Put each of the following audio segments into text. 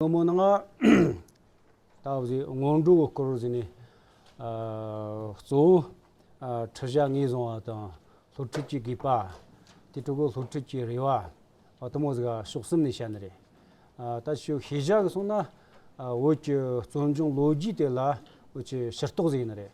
ཁོ་མོ་ནི་སྔར་ལྟ་བུ་ཞིག་སྔོན་འགྲོ་གི་སྐོར་ཞིག་ནས་གཙོ་བོ་ཁྲི་བྱ་ལྔས་བཟུང་བ་དང་ལྷོ་ཁྲིད་ཀྱི་དགོས་པ། དེ་ཕྲུ་གུ་ལྷོ་ཁྲིད་ཀྱི་རེ་བ། བ་དུ་མ་ཟིག་ཕྱོགས་གསུམ་ནས་བཤད་ནི་རེད། ད་ཕྱོགས་ཤེས་བྱ་གི་སོང་ན་བོད་ཀྱི་བཙོན་འབྱུང་ལོ་རྒྱུས་དེ་ལ་བོད་ཀྱི་ཤེར་རྟོགས་ཟིག་ཡིན་ནི་རེད།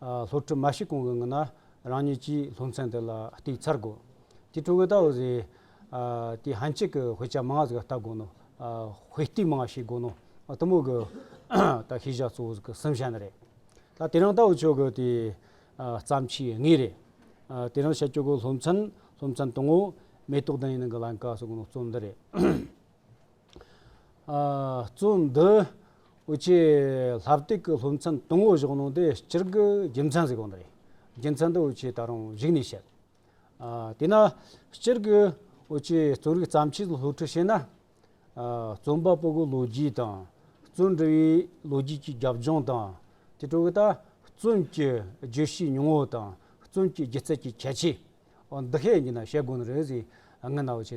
སློབ་ཕྲུག་མ་ཞིག་གང་གི་ངོ་ན་རང་ཉིད་ཀྱིས་སློབ་ཚན་དེ་ལ་བསྟུད་ཚར་དགོས། དེ་ཀྲུང་གོའི་ཏའོ་ཟེར། དེ་ཧན་ཅིག་གི་དཔེ་ཆ་མང་བ་ཟིག་ལ་བལྟ་དགོས་ནོ། དཔེ་བསྟུད་མང་བ་ཞིག་དགོས་ནོ། གཏི་མུག་གི་ད་ཤེས་བྱ་གཙོ་བོ་ཟིག་གི་སེམས་བྱ་ནི་རེད། ད་དེ་རང་ལྟ་བུ་ཆོས་གི་དེ་བརྩམས་ཆོས་ངེས་རེད། དེ་རང་བྱ་ཆོས་གི་སློབ་ཚན་སློབ་ཚན་དང་ངོ་མེ་ཏོག་ལྡན་ཡིན་ནི་གི་ལན་ཀ་ཟིག་གི་ནོར་རྩོམ་འདི་རེད། གཙོ་འདི། ཨོ་ཆེ། ལྷ་བཏེག་གི་སློབ་མཚམས་དང་བོ་བཞག་གནང་དེ་སྤྱིར་དགུ་རྒྱུ་མཚན་ཟིག་གང་དུ་རེད། རྒྱུ་མཚན་དུ་ཨོ་ཆེ་ད་རུང་གཞིགས་ནས་བཤད། དེས་ན། སྤྱིར་དགུ་ཨོ་ཆེ་རྩོམ་རིག་བརྩམས་ཆོས་ལ་སློབ་ཁྲིད་བྱེད་ན། རྩོམ་པ་པོ་གི་ལོ་རྒྱུས་དང། རྩོམ་འབྲི་བའི་ལོ་རྒྱུས་ཀྱི་རྒྱབ་ལྗོངས་དང། དེ་སྤྲོ་གི་ད། རྩོམ་གྱི་བརྗོད་གཞིའི་མྱོང་བོ་དང། རྩོམ་གྱི་སྒྱུ་རྩལ་གྱི་ཁྱད་ཆོས། འོ་འདི་ཧེ་ཡིན་ན་བཤད་དགོས་ནི་རེད་ཟེར་ངའི་ནའོ་ཆེ་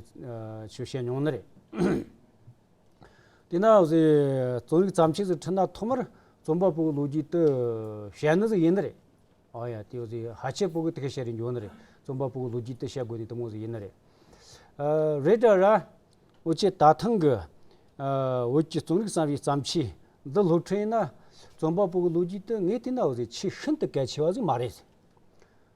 ཆོས་བཤད་མྱོང་ནི་རེད། དེས་ན་ཟེར་རྩོམ་རིག་བརྩམས་ཆོས་སུ་ཁྲིད་ན་ཐོག་མར་རྩོམ་པ་པོའི་ལོ་རྒྱུས་དུ་བཤད་ནི་ཟེར་ཡིན་ནི་རེད། ཨོ་ཡ་དེ་ཟེར་ཧ་ཆེ་པོ་གི་དེ་ག་བཤད་རིན་འབྱུང་ནི་རེད་རྩོམ་པ་པོའི་ལོ་རྒྱུས་དུ་བཤད་དགོས་ནི་དེ་མོ་ཟེར་ཡིན་ནི་རེད། རེད་དྲ་ར། ཨོ་ཆེ་ད་ཐེངས་ཀྱི་བོད་ཀྱི་རྩོམ་རིག་བསམ་ཡས་བརྩམས་ཆོས་འདི་སློབ་ཁྲིད་ཡིན་ན་རྩོམ་པ་པོའི་ལོ་རྒྱུས་དུ་ངའི་དེ་ནའོ་ཟེར་ཆེས་ཤིན་ཏུ་གལ་ཆེ་བ་ཟིག་མ་རེད།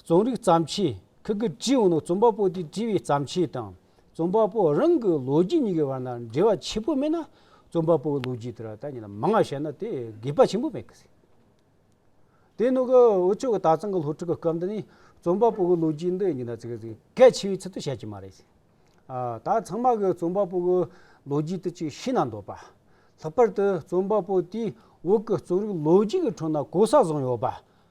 རྩོམ་རིག་བརྩམས་ཆོས་ཁག་གི་སྤྱི་ཡོངས་ནང་རྩོམ་པ་པོ་དེས་བྲིས་པའི་བརྩམས་ཆོས་དང་རྩོམ་པ་པོ་རང་གི་ལོ་རྒྱུས་གཉིས་ཀྱི་བར་ན་འབྲེལ་བ་ཆེན་པོ་མེད་ན་རྩོམ་པ་པོའི་ལོ་རྒྱུས་དེར་ད་ནི་མ་ངག་བཤད་ན་དེ་དགོས་པ་ཆེན་པོ་མེད་གི། དེ་ནང་གི་འུ་ཅོ་གི་དག་གཙང་གི་སློབ་ཕྲུག་གི་སྐབས་འདི་ནི་རྩོམ་པ་པོའི་ལོ་རྒྱུས་འདི་གཉིས་ན་གལ་ཆེ་བའི་ཚུལ་དུ་བཤད་ཀྱི་མ་རེད། ད་ཚང་མ་གིས་རྩོམ་པ་པོའི་ལོ་རྒྱུས་དེ་ཅིག་ཤེས་ན་འདོད་པ། ལྷག་པར་དུ་རྩོམ་པ་པོ་དེའི་འོག་གི་རྩོམ་རིག་ལོ་རྒྱུས་ཀྱི་ཁྲོད་ན་གོ་ས་བཟང་ཡོད་པ་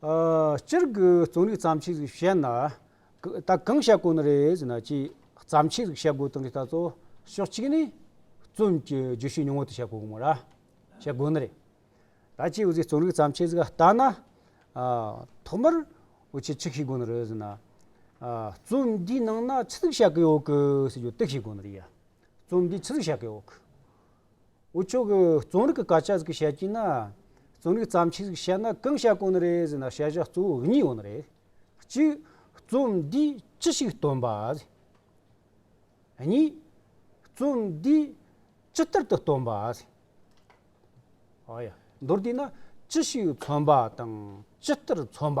སྤྱིར་སྒོས་རྩོམ་རིག་བརྩམས་ཆོས་རིགས་བཤད་ན། ད་གང་བཤད་དགོས་ནི་རེད་ཟེར་ན་ཅིག་བརྩམས་ཆོས་རིགས་བཤད་དགོས་དོན་གྱི་ལྟ་ཚོ་ཕྱོགས་གཅིག་ནི། རྩོམ་གྱི་བརྗོད་གཞི་ཉུང་ངུ་དེ་བཤད་དགོས་མོད་ར། བཤད་དགོས་ནི་རེད། ད་ཅིག་འོ་ཅིག་རྩོམ་རིག་བརྩམས་ཆོས་རིགས་ལྟ་ན། ཐོག་མར་འོ་ཅིག་ཅིག་ཤེས་དགོས་ནི་རེད་ཟེར་ན། རྩོམ་འདིའི་ནང་ན་ཅི་ཟིག་བཤད་ཀྱི་ཡོད་ཀི་ཟེར་རྒྱུ་ཏིག་ཤེས་དགོས་ནི་རེད་ཡ། རྩོམ་འདི་ཅི་ཟིག་བཤད་ཀྱི་ཡོད་ཀི། འུ་ཅོ་གི་རྩོམ་རིག་གི་སྐད་ཆ་ཟིག་གིས་བཤད་ཀྱིན་ན། རྩོམ་རིག་བརྩམས་ཆོས་ཟིག་གིས་བཤད་ན་གང་བཤད་དགོས་ནི་རེད་ཟེར་ན་བཤད་བྱ་གཙོ་བོ་གཉིས་ཡོད་ནི་རེད། གཅིག། རྩོམ་འདིས་ཅི་ཞིག་སྟོན་པ། གཉིས། རྩོམ་འདིས་ཅི་ལྟར་དུ་སྟོན་པ། མདོར་བསྡུས་ན་ཅི་ཞིག་མཚོན་པ་དང་ཅི་ལྟར་མཚོན་པ།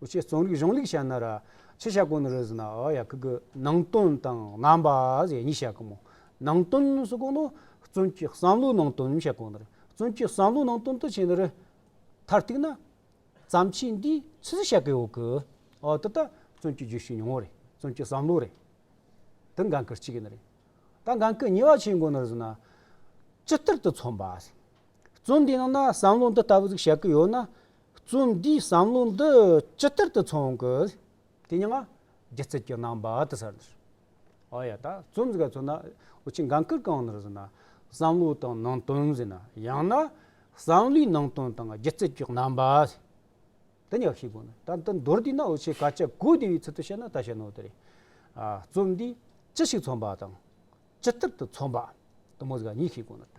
ཨོ་ཆེ་རྩོམ་རིག་གཞུང་ལེགས་ཤ་ན་ར། ཆེ་ཤ་ཀོ་ནོ་རོལ་ཟི་ན་ཨོ་ཡ་ཀི་གི། ནང་དོན་དང་རྣམ་པ་ཟེར་གཉིས་བཤད་གི་མོ། ནང་དོན་ཟེར་གོ་ནོ། བཙུན་གྱི་བསམ་བློའི་ནང་དོན་བཤད་གོ་ནོ་རེ། བཙུན་གྱི་བསམ་བློའི་ནང་དོན་དུ་བྱས་ནོ་རེ། མཐར་གཏུགས་ན། བརྩམས་ཆོས་འདིའི་ཚིག་གཟིགས་བཤད་གི་ཡོད་གི། ཨོ་དེ་ལྟ་བཙུན་གྱི་རྒྱུད་ཤུགས་ཉུང་ངོ་རེ། བཙུན་གྱི་བསམ་བློ་རེ། དེ་འགན་ཁུར་ཅི་གི་ནི་རེ། ད་འགན་ཁུར་ཉེས་བ་ཆེ་གོ་ནོ་རོལ་ཟི་ན། ཅི་ལྟར་དུ་མཚོན་པ། བཙུན་འདིའི་ནང་ན་བསམ་བློ་འདི་ལྟ་བུ་ཟིག་བཤད་གི་ཡོད་ན། རྩོམ་འདིའི་བསམ་བློ་འདི་ཇི་ལྟར་དུ་འཚོང་དགོས། དེ་ནི་སྔ་རྗེས་ཚིག་གི་ནང་པར་དུ་ཟེར། ཨོ་ཡ་ད་རྩོམ་འདི་ག་ཚོད་ན་འུ་ཅི་འགངས་ཁུར་གང་ནར་ཟེར་ན། བསམ་བློའི་དང་ནང་དོན་ཟེར་ན་ཡང་ན། བསམ་བློའི་ནང་དོན་དང་སྒྱུ་རྩལ་གྱི་རྣམ་པ། འདི་གཉིས་ཀ་ཤེས་དགོས་ནི་ད་འདི་མདོར་བསྡུས་ན་འུ་ཆེས་ག་ཅད་གོ་བདེ་བའི་ཚུལ་དུ་བཤད་ན་ད་ཞེ་ནོ་དེ་རེད། རྩོམ་འདི་ཅི་ཞིག་འཚོང་པ་དང། ཇི་ལྟར་དུ་འཚོང་པ། དུ་མོ་ཟེར་ག་གཉིས་ཤེས་དགོས་ནི་ད།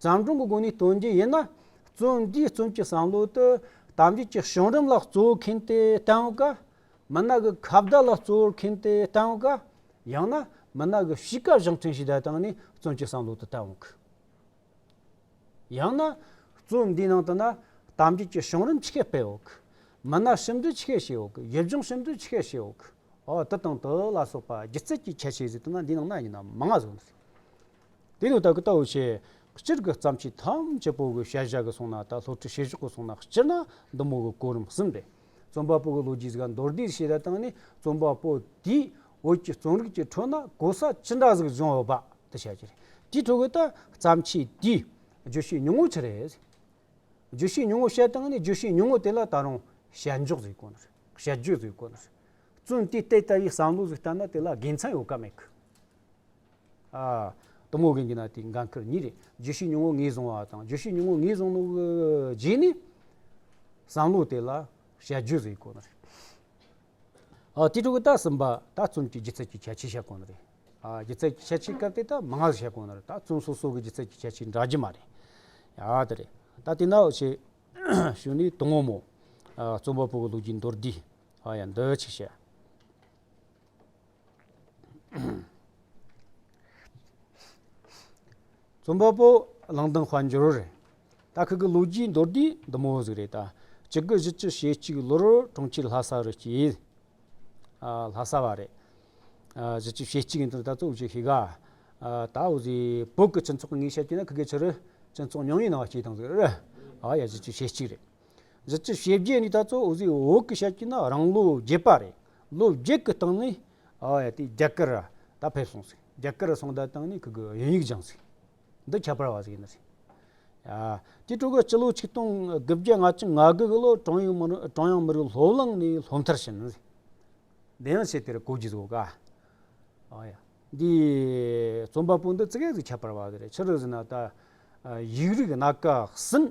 བརྩམས་སྒྲུང་གི་སྒོ་ནས་སྟོན་རྒྱུ་ཡིན་ན། བརྩོན་འགྲུས་རྩོམ་གྱི་བསམ་བློ་དེ་དམ་བཅའི་གཅིག་བྱུང་རིམ་ལ་བརྩོན་མཁན་དེ་བསྟན་དགོས། མི་ནག་གི་ཁ་བརྡ་ལ་བརྩོན་མཁན་དེ་བསྟན་དགོས། ཡང་ན་མི་ནག་གི་གཤིས་ཀ་བཞེངས་ཕྲེང་ཞིག་བསྡད་སྟངས་ནས་བརྩོན་གྱི་བསམ་བློ་དེ་བསྟན་དགོས། ཡང་ན། བརྩོན་འདིའི་ནང་དུ་ན་དམ་བཅའི་གཅིག་བྱུང་རིམ་ཆི་ཤས་སྤེལ་དགོས། མི་ནག་ཞིབ་འབྲི་ཆི་ཤས་བྱེད་དགོས། ཡུལ་ལྗོངས་ཞིབ་འབྲི་ཆི་ཤས་བྱེད་དགོས། འོ་དེ་དང་དེ་ལ་སོགས་པ་སྒྱུ་རྩལ་གྱི་ཁྱད་ཆོས་ཟེར་དུས་ན་འདིའི་ནང་ན་ཡིན་ན་མང་ང་ཟུག་འདུག། དེ་ནས་བདག་གིས་ལྟ་བར་བྱའི། སྤྱིར་གྱི་བརྩམས་ཆོས་ཐམས་ཅད་པོ་གི་ཤར་བཞག་གི་གསུང་ན་དང་ལྷོ་ཁྲི་ཕྱི་བཞག་གི་གསུང་ན་སྤྱིར་ན་བདུད་མོ་གི་གོ་རིམ་གསུམ་རེད། རྩོམ་པ་པོ་གི་ལོ་རྒྱུས་ཀྱི་མདོར་བསྡུས་ཤེས་རབ་དང་ནི་རྩོམ་པ་པོ་དེའི་བོད་ཀྱི་རྩོམ་རིག་ཀྱི་ཁྲོད་ན་གོ་ས་ཅི་འདྲ་ཟིག་སྦྱོང་ཡོད་པ་དེ་བཤད་རྒྱུ་རེད། དེའི་ཁྲོད་དུ་བརྩམས་ཆོས་དེའི་བརྗོད་གཞི་ཉུང་ངུ་ཆེ་རེད། བརྗོད་གཞི་ཉུང་ངུ་བཤད་སྟངས་ནི་བརྗོད་གཞི་ཉུང་ངུ་དེ་ལ་ད་རུང་བཤད་འཇོག་ཟིག་དཀོན་རེད་བཤད་རྒྱུ་ཟིག་དཀོན་རེད། བཙུན་དེ་ལྟའི་ལྟ་བའི་བསམ་བློ་ཟིག་བསྟན་ན་དེ་ལ་དགེ་མཚན་ཡོད་ཀ་མེད་ཀི། གཏུམ་མོ་གིང་གིས་ན་དེའི་འགན་ཁུར་ཉིད་རེད། བརྗོད་གཞི་ཉུང་ངུ་ངེས་བཟུང་བ་དང་བརྗོད་གཞི་ཉུང་ངུ་ངེས་བཟུང་ནོ་གི་རྗེས་ནས་བསམ་བློ་དེ་ལ་བྱ་རྒྱུ་རེད་ཁོ་ན་རེད། དེ་ཕྲུ་གུ་དག་གསུམ་པ་དག་བཙུན་གྱི་སྒྱུ་རྩལ་གྱི་ཁྱད་ཆོས་བཤད་ཁོ་ན་རེད། སྒྱུ་རྩལ་གྱི་ཁྱད་ཆོས་སྐབས་དེ་དག་མ་ངག་བཤད་ཁོ་ན་རེད་ད་བཙུན་སོ་སོ་གི་སྒྱུ་རྩལ་གྱི་ཁྱད་ཆོས་འདྲ་རྒྱུ་མ་རེད། དེ་རེད། ད་དེ་ནའོ་ཆེ་ཞུ་ནི་གཏུམ་མོ་མོ། རྩོམ་པ་པོ་གི་ལུགས་ཀྱི་མདོར་བསྡུས། ཡ་མདོའི་ཆེ་བཤད། རྩོམ་པ་པོ་གླང་དང་དཔལ་འབྱོར་རེད་ད་ཁག་གི་ལོ་རྒྱུས་མདོར་བསྡུས་འདི་མོ་ཟིག་རེད་ད་བཅུ་དགུ་བཞི་བཅུ་ཞེ་གཅིག་ལོར་གྲོང་ཁྱེར་ལྷ་ས་རུ་སྐྱེས། ལྷ་ས་བ་རེད། བཞི་བཅུ་ཞེ་གཅིག་ནི་ད་གཙོ་བོ་ཞིག་ཤི་ག། ད་འོ་ཟི་བོད་ཀྱི་སྤྱི་ཚོགས་ངས་བཤད་རྒྱུ་ན་ཁག་གི་ཕྱི་རུ་སྤྱི་ཚོགས་ཉུང་ཉུང་ནང་བ་སྐྱེས་དང་ཟིག་རེད། ཨ་ཡ་བཞི་བཅུ་ཞེ་གཅིག་རེད། གཞི་ཆེ་ཞེ་བརྒྱད་ནི་ད་གཙོ་བོ་གཟིག་འོག་གི་ཤར་གྱི་ན་རང་ལོ་བརྒྱད་པ་རེད། ལོ་བརྒྱད་ཀྱི་སྟེང་ནས་རྒྱ་གར་ར་ད་ཕེབས་སོང་ཟིག་རྒྱ་གར་ར་སོང་ད་སྟེང་ནས་ཁུ་གུ་དབྱིན་ཡིག་སྦྱངས་ཟིག་འདི་ཁྱད་པར་བ་ཟིག་ཡིན་ཟིག། དེ་དྲུག་གི་སྤྱི་ལོ་ཆིག་སྟོང་དགུ་བརྒྱ་ང་གཅིག་ང་དགུ་གི་ལོར་ཀྲོང་ཡོན་ཀྲོང་ཡང་མི་རིགས་སློབ་གླིང་ནས་སློབ་མཐར་ཕྱིན་ཟིག་དེ་ཡང་ཆེ་དེར་གོ་གི་ཟོ་ག། འདི་རྩོམ་པ་པོ་འདི་ཙི་གེ་ཟིག་ཁྱད་པར་བ་ཟིག་རེད་ཕྱི་རུ་ཟིན་ན་ད་ཡིག་རིགས་སྣ་ཀ་ཟིན།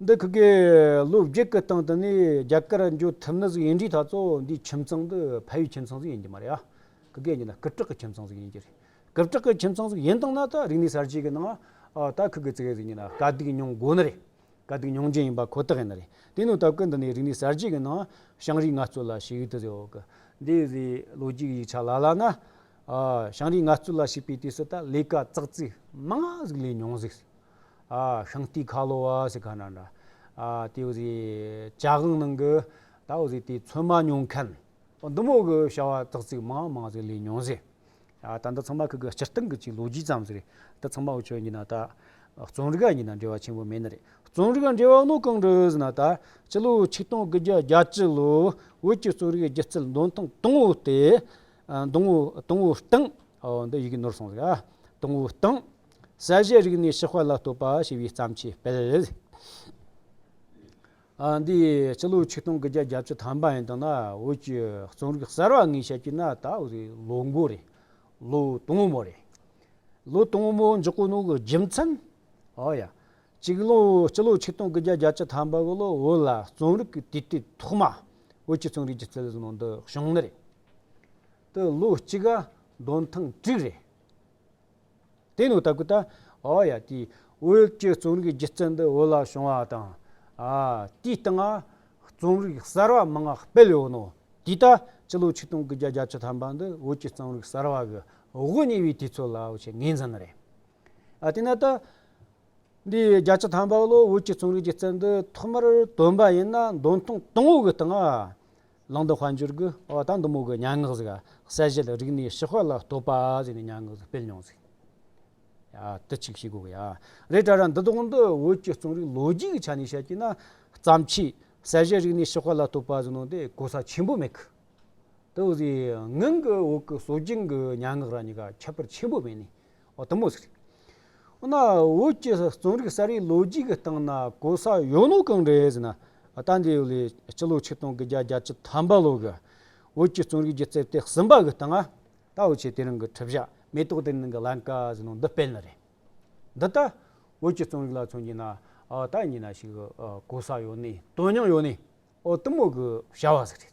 འདི་གི་གི་ལོ་བརྒྱད་ཀི་སྟེང་དུ་ནི་རྒྱ་གར་འབྱོར་ཐུབ་ན་གཟིགས་ཡིན་འདྲིས་ད་ཚོ་འདིའི་ཁྱིམ་ཚང་འདི་ཕ་ཡུལ་ཁྱིམ་ཚང་གཟིགས་ཡིན་གྱི་མ་རེད་ཨ། གི་གི་གཉིས་ན་གི་བྲག་གི་ཁྱིམ་ཚང་གཟིགས་ཡིན་གྱི་རེད། གི་བྲག་གི་ཁྱིམ་ཚང་གཟིགས་ཡིན་སྟངས་ན་ད་རིག་གནས་གསར་བརྗེ་གི་ནང་ད་གི་གི་ཙི་གེ་གཟིགས་གཉིས་ན་དཀའ་སྡིག་མྱོང་དགོས་ནི་རེད། དཀའ་སྡིག་མྱོང་རྒྱུ་ཡིན་པ་ཁོ་ཐག་ཡིན་ནི་རེད་དེ་ནི་ད་གི་འདི་ནི་རིག་གནས་གསར་བརྗེ་གི་ནང་ཞང་རིག་ངལ་རྩོལ་ལ་ཞིག་ཡིག་ཏུ་ཟེར་བ་གི་འདི་གི་ལོ་གཅིག་ཡིག་ཆ་ལ་ལ་ན་ཞང་རིག་ངལ་རྩོལ་ལ་ཞུགས་པའི་དུས་སུ་ད་ལས་ཀ་ཙག་ཙིག་མང་གཟིགས་ལས་མྱོང་གཟིགས་ཤངས་ཏི་ཁ་ལོ་བ་ཟེར་ག་ན་འདྲ། དེ་འོ་ཟི་བཅའ་དབང་ནང་གི་ད་འོ་ཟི་དེ་ཚོད་མ་མྱོང་མཁན། འདུ་མོ་གི་བྱ་བ་ཙག་ཙིག་མང་མང་ཟིག་ལས་མྱོང་ཟེར། ད་འདི་ཚང་མ་ཁག་གི་སྤྱིར་བཏང་གི་ཅིག་ལོ་རྒྱུས་ཙམ་ཟེར། འདི་ཚང་མ་འོ་ཆོས་གཉིས་ན་ད་རྩོམ་རིག་གཉིས་ན་འབྲེལ་བ་ཆེན་པོ་མེད་ན་རེད། རྩོམ་རིག་འབྲེལ་བ་ནོ་གང་འདྲ་འོ་ཟི་ན་ད་སྤྱི་ལོ་ཆིག་སྟོང་དགུ་བརྒྱ་བརྒྱ་ཅི་ལོ་བོད་ཀྱི་རྩོམ་རིག་སྒྱུ་རྩལ་འདོན་སྟངས་དང་བོ་སྟེ། དང་བོ་དང་བོ་སྟངས་འོ་འདི་ཡི་གེ་ནོར་སོང་ཟིག་ཨ། དང་བོ་སྟངས། གསལ་བྱེད་རིགས་ནི་ཕྱི་དཔེ་ལ་ལྟོས་པ་ཞེས་པའི་བརྩམས་ཆོས་དཔེར་རེད། འདི་སྤྱི་ལོའི་ཆིག་སྟོང་གི་བརྒྱད་བརྒྱ་བཅུ་ཐམ་པ་ཡིན་འདུག་ན་བོད་ཀྱི་རྩོམ་རིག་གསར་བ་ངས་བཤད་ཀྱི་ན་ད་ལོ་མགོ་རེད། ལོ་དུང་མོ་རེད། ལོ་དུང་མོ་འཇོག་གི་འདུག་རྒྱུ་མཚན། ཨོ་ཡ། སྤྱི་ལོ་ཆིག་སྟོང་གི་བརྒྱད་བརྒྱ་བཅུ་ཐམ་པ་ལོ་བོད་ལ་རྩོམ་རིག་གི་དུས་དེབ་ཐོག་མ་བོད་ཀྱི་རྩོམ་རིག་གི་རྩིས་ལས་ནང་དུ་བྱུང་ནི་རེད། དེ་ལོ་གཅིག་གདོན་ཐང་དྲུག་རེད། དེ་ནི་ལྟ་གི་ལྟ། ཨོ་ཡ་དེ། འོད་ཀྱི་རྩོམ་རིག་སྒྱུ་རྩལ་འདི་བོད་ལ་བྱུང་བ་དང། དེའི་སྟེང། རྩོམ་རིག་གསར་བ་མང་སྤེལ་ཡོད་ནོ། དེ་ལྟ། སྤྱི་ལོ་ཆིག་སྟོང་གི་བརྒྱད་བརྒྱ་ཆ་ཐམ་པ་འདི་བོད་ཀྱི་རྩོམ་རིག་གསར་བ་གི་དབུ་བརྙེས་པའི་དུས་ཚོད་ལ་བྱེད་ངེས་ཙམ་རེད། དེ་ནས་ལྟ། འདི་བརྒྱ་ཆ་ཐམ་པ་ལོར་བོད་ཀྱི་རྩོམ་རིག་སྒྱུ་རྩལ་འདི་ཐོག་མར་བཏོན་པ་ཡིན་ན་འདོན་ཐེངས་དང་བོ་གི་སྟེང། གླང་དུ་དཔལ་འབྱོར་གྱི་ཨོ་ད་འདུ་མོ་གི་སྙན་ངག་གཟིགས་གསལ་བཞེད་རིག་གནས་ཞི་དཔལ་ལ་བསྟོད་པ་ཟེར་ནས་སྙན་ངག་གཟིགས་སྤེལ་མྱོང་གཟིགས། དུ་གཅིག་ཤེས་དགོས་ཡ་རེད་དྲ་ར་འདི་དག་འདི་བོད་ཀྱི་རྩོམ་རིག་ལོ་རྒྱུས་ཀྱི་ཆ་ནས་བཤད་ཀྱིན་ན་བརྩམས་ཆོས་གསལ་བཞེད་རིག་གནས་ཞི་དཔལ་ལ་བསྟོད་པ་ཟེར་ནོ་དེ་གོ་ས་ཆེན་པོ་མེད་གི། དེ་བཞིན་ངང་གིས་འོག་གི་སྲོལ་རྒྱུན་གྱི་སྙན་ངག་རང་གཉིས་ཀ་ཁྱད་པར་ཆེན་པོ་མེད་ནས། དུ་མ་ཟེར། འོ་ན་བོད་ཀྱི་རྩོམ་རིག་གསར་བའི་ལོ་རྒྱུས་ཀྱི་སྟེང་ན་གོ་ས་ཡོད་ནོ་གང་འདྲ་ཡོད་ཟེར་ན། ད་འདི་ལོའི་སྤྱི་ལོ་ཆིག་སྟོང་གི་བརྒྱ་གྱ་བཅུ་ཐམ་པ་ལོ་གི་བོད་ཀྱི་རྩོམ་རིག་གི་རྩེ་ལྟེ་གསུམ་པ་གི་སྟེང་ན་ད་འོ་ཆེ་དེ་རིང་གི་ཁྲི་བཞག་མེ་ཏོག་དེ་རིང་གི་ལན་ཀ་ཟེར་ནོ་འདི་སྤེལ་ནི་རེད། འདི་ལྟར་བོད་ཀྱི་རྩོམ་རིག་ལ་མཚོན་གྱི་ན་ད་ཉིན་ན་ཞིག་གོ་ས་ཡོད་ནི་དོན་སྙིང་ཡོད་ནི་འོ་དུ་མོ་གི་བྱ་བ་ཟེར་རེད།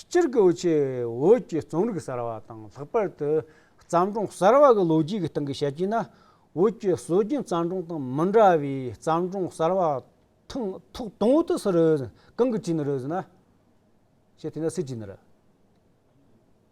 སྤྱིར་སྒོ་ཕྱེའི་འོད་ཀྱི་རྩོམ་རིག་གསར་བ་དང་ལྷག་པར་དུ་བརྩམས་སྒྲུང་གསར་བ་གི་ལོ་རྒྱུས་ཀྱི་སྟེང་གི་བཤད་རྒྱུན་ན་འོད་ཀྱི་སྲོལ་རྒྱུན་བརྩམས་སྒྲུང་དང་མི་འདྲ་བའི་བརྩམས་སྒྲུང་གསར་བ་ཐུང་ཐུགས་དང་བོ་དུ་སི་རུ་གང་གི་དྲིན་རུ་ཟི་ན།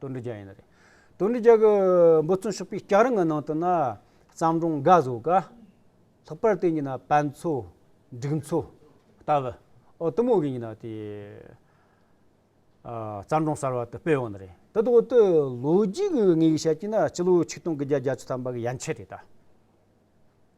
དོན་འགྲུལ་རྒྱ་ཡིན་ན་རེད། དོན་འགྲུལ་རྒྱ་གི་འབོད་བརྩོན་ཕྱོགས་པའི་སྐྱག་རིང་གི་ནང་དུ་ན་བརྩམས་སྒྲུང་འགའ་བཟོ་ག། ལྷག་པར་དེ་གཉིས་ན་བན་མཚོ། འབྲུག་མཚོ། ལྟ་བུ། ཨོ་དུ་མོ་གི་གཉིས་ན་དེ། བརྩམས་སྒྲུང་གསར་བ་དུ་སྤེལ་འོང་ན་རེད། དེ་དག་ཏུ་ལོ་རྒྱུས་ཀྱི་ངེས་ཤེས་བྱས་ཀྱི་ན་སྤྱི་ལོའི་ཆིག་སྟོང་གི་བརྒྱད་བརྒྱ་ཅུ་ཐམ་པ་གི་ཡན་ཆད་རེད་ད།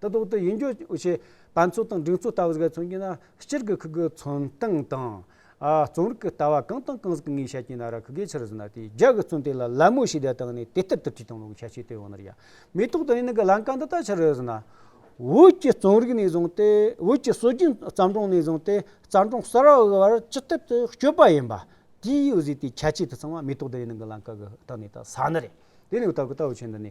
དུ་གཏོགས་ཏེ་ཡིད་འགྱུར་བྱེད་པ་མཚོ་དང་འབྲིང་མཚོ་ལྟ་བུ་ཟེར་མཚོན་གྱི་ན་སྤྱིར་གྱི་ཁུ་གུ་མཚོན་སྟངས་དང། རྩོམ་རིག་གི་ལྟ་བ་གང་དང་གང་ཟིག་གི་ངས་བཤད་ཀྱི་ན་ར་ཁུ་གེ་ཕྱིར་ཟིན་ན་དེའི་རྒྱ་གི་མཚོན་དེ་ལ་ལད་མོ་ཞེས་བརྡ་བཏང་ནས་དེ་ལྟར་དུ་བྲིས་དང་ལུགས་ཤ་ཤེད་དེ་ཡོང་ནར་ཡ་མེ་ཏོག་དང་ཡི་ནི་གི་ལན་ཀ་འདི་ལྟར་ཕྱིར་ཟིན་ན། བོད་ཀྱི་རྩོམ་རིག་ནས་བཟུང་སྟེ་བོད་ཀྱི་སྲོལ་རྒྱུན་བརྩམས་སྒྲུང་ནས་བཟུང་སྟེ་བརྩམས་སྒྲུང་གསར་བ་དབུལ་བར་ཅི་ཐད་དུ་སྤྱོད་པ་ཡིན་པ་དེའི་ཡུལ་ཟས་དེའི་ཁྱད་ཆོས་དུ་ཚང་བ་མེ་ཏོག་དང་ཡི་ནི་གི་ལན་ཀ་གི་སྟེང་ནས་ད་ཟ་ནི་རེད་དེ་ནི་ལྟ་བུ་ལྟ་བུ་ཆེ་འདི་ནི།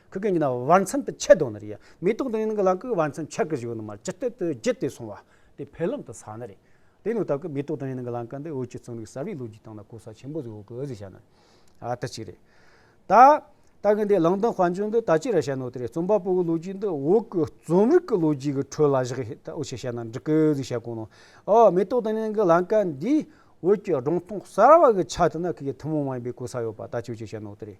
ཁུ་ཀེ་ཉི་ན་བར་མཚམས་དུ་ཆད་དོ་ན་རེ། མེ་ཏོག་དང་ཡན་གྱི་ལང་ཀི་བར་མཚམས་ཆད་ཀི་བཞི་བོ་ནི་མར་ཇི་ལྟ་དུ་བརྒྱུད་དེ་སོང་བ་དེ་འཕེལ་ལམ་དུ་ས་ན་རེ། དེ་ནི་དག་གི་མེ་ཏོག་དང་ཡན་གྱི་ལང་ཀ་འདི་འོད་ཀྱི་རྩོམ་རིག་གསར་བའི་ལོ་རྒྱུས་སྟེང་ན་གོ་ས་ཆེན་པོ་ཟིག་འོག་གི་འོད་ཟེར་ཞེས་ན་དེ་གཅིག་རེད། ད་ལྟ་གི་འདི་ལང་དང་དཔའ་འབྱོར་འདི་ད་ཅི་རེད་བཤད་ནོ་དེ་རེད་རྩོམ་པ་པོ་གི་ལོ་རྒྱུས་འདི་འོག་གི་རྩོམ་རིག་གི་ལོ་རྒྱུས་ཀྱི་ཁྲོད་ལ་བཞག་ཧེ་ད་འོ་ཆེ་བཤད་ན་འགྲིག་གི་ཟིག་བཤད་དགོས་ནོ། ཨོ་མེ་ཏོག་དང་ཡན་གྱི་ལང་ཀ་འདིའི་འོད་ཀྱི་སྒྲུང་ཐུང་གསར་བ་གི་ཆ་དེ་ན་ཁུ་ཀེ་ཐུན་མོང་མ་ཡིན་པའི་གོ་ས་ཡོད་པ་ད་ཅི་འོ་ཆེ་བཤད་ནོ་དེ་རེད།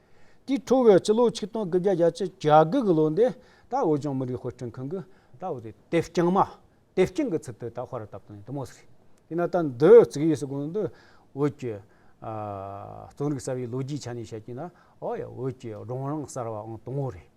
དེའི་འཕྲོ་བའི་སྤྱི་ལོ་ཆིག་སྟོང་དགུ་བརྒྱ་གྱ་བཅུ་གྱ་དགུ་གི་ལོ་འདི་ད་བོད་ལྗོངས་མི་རིགས་དཔེ་སྐྲུན་ཁང་གིས་ད་བོད་དེ་དེབ་རྐྱང་མ་དེབ་རྐྱང་གི་ཚུལ་དུ་ད་ཧོར་བཏབ་དོན་དུ་མོ་ཟེར། དེས་ན་ད་འདི་བརྩིགས་ཡས་སུ་དགོངས་འདུས་བོད་ཀྱི། རྩོམ་རིག་གསར་བའི་ལོ་རྒྱུས་ཆ་ནས་བཤད་རྒྱུ་ན་ཨོ་ཡ་བོད་ཀྱི་སྒྲུང་རིང་གསར་བའང་དང་བོ་རེད།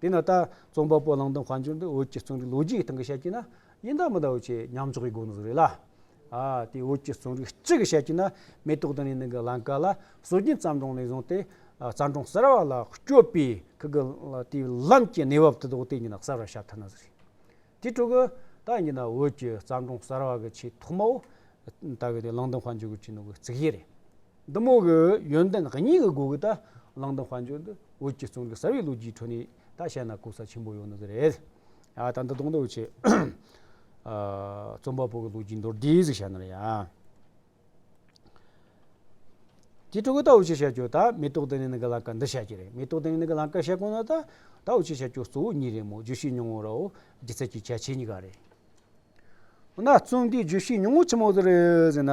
དེས་ན་ད་རྩོམ་པ་པོ་གླང་དོན་གང་བྱུང་འདི་བོད་ཀྱི་རྩོམ་རིག་ལོ་རྒྱུས་ཀྱི་སྟེང་གི་བཤད་རྒྱུ་ན་ཡིན་དང་མི་དང་ཆེས་ཉམས་ཆག་གི་སྒོ་ནས་བཟོ་རེད་ལ། དེ་བོད་ཀྱི་རྩོམ་རིག་སྤྱི་གི་བཤད་རྒྱུ་ན་མེ་ཏོག་དང་ནས་ནི་གི་བླང་དཀར་ལ་སྲོལ་རྒྱུན་བརྩམས་སྒྲུང་ནས་བཟུང་སྟེ་བརྩམས་སྒྲུང་གསར་བ་ལ་བསྐྱོད་པའི་ཁག་གི་དེའི་ལམ་གྱི་གནས་བབ་དེ་དག་དེ་ཡིན་ན་གསར་བར་བྱ་ཐུབ་ན་བཟོ་རེད། དེའི་ཁྲོད་ཀྱི་ད་ཡིན་ན་བོད་ཀྱི་བརྩམས་སྒྲུང་གསར་བ་གི་ཆེས་ཐོག་མའོ། ད་གི་དེ་གླང་དོན་གང་བྱུང་གི་བྱིན་ནོ་གི་རྩིག་གཞི་རེད། འདི་མོ་གི་ཡོན་ཏན་གཉིས་ཀྱི་སྒོ་གིས་ད་གླང་དང་དཔལ་འབྱོར་འདི་འོད་ཀྱིས་བཙོང་གི་ཟ་བའི་ལོ་རྒྱུས་ཁྲོད་ནས་ད་བཤད་ན་ལྐུགས་ས་ཆེན་པོ་ཡོང་ནི་གི་རེད། ཡ་ད་འདི་གདོང་འདོགས་བྱེད། རྩོམ་པ་པོ་གི་ལོ་རྒྱུས་མདོར་བསྡུས་ཟིག་བྱ་ན་རེད། དེའི་ཁྲོད་གི་ད་འོ་ཅི་བྱ་རྒྱུ་ད་མེ་ཏོག་ལྡི་ལི་ནི་གི་ལང་ཀ་འདི་བྱ་རྒྱུ་རེད་མེ་ཏོག་ལྡི་ལི་ནི་གི་ལང་ཀ་བྱེད་དགོས་ན་ད་ད་འོ་ཅི་བྱ་རྒྱུ་གཙོ་བོ་གཉིས་རེད་མོ་བརྗོད་ཤེས་ཉུང་ངུ་རོ་སྒྱུ་རྩལ་གྱི་ཁྱད་ཆེ་གཉིས་ཀ་རེད། འོ་ན་རྩོམ་འདི་བརྗོད་ཤེས་ཉུང་ངུ་ཆེན་མོ་དེ་རེད་ཟེར་ན།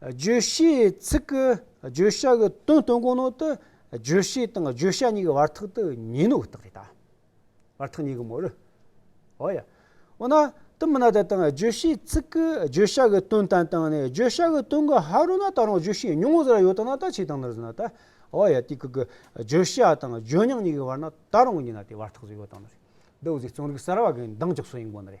བརྗོད་བྱའི་ཚིག་གི་བརྗོད་བྱ་གི་དོན་སྟོན་གོ་ནོ་ཏི་བརྗོད་བྱེད་དང་བརྗོད་བྱ་གཉིས་ཀྱི་བར་ཐག་ཏི་ཉིན་ནོ་ཏག་རེ་ད། བར་ཐག་གཉིས་ཀྱི་མོ་རི། ཨོ་ཡ། འོ་ན་ཏི་མི་ན་ད་དང་བརྗོད་བྱའི་ཚིག་གི་བརྗོད་བྱ་གི་དོན་དན་དང་ནི་བརྗོད་བྱ་གི་དོན་གི་ཧ་རོ་ན་ད་རང་བརྗོད་བྱའི་མྱོང་བོ་ཟེ་ར་ཡོ་ད་ན་ད་ཆེ་དང་ནི་རི་ན་ད། ཨོ་ཡ་ཏི་ཀི་ཀི་བརྗོད་བྱ་དང་བརྗོད་མྱང་གཉིས་ཀྱི་བར་ན་ད་རང་གི་ཉིན་ན་ཏི་བར་ཐག་ཟེ་ཡོ་དང་ནི་རི། ཏི་འོ་ཟེ་རྩོམ་རིག་གསར་བ་གི་མདངས་ཀྱི་སོ་ཡིན་གོ་ནི་རེ།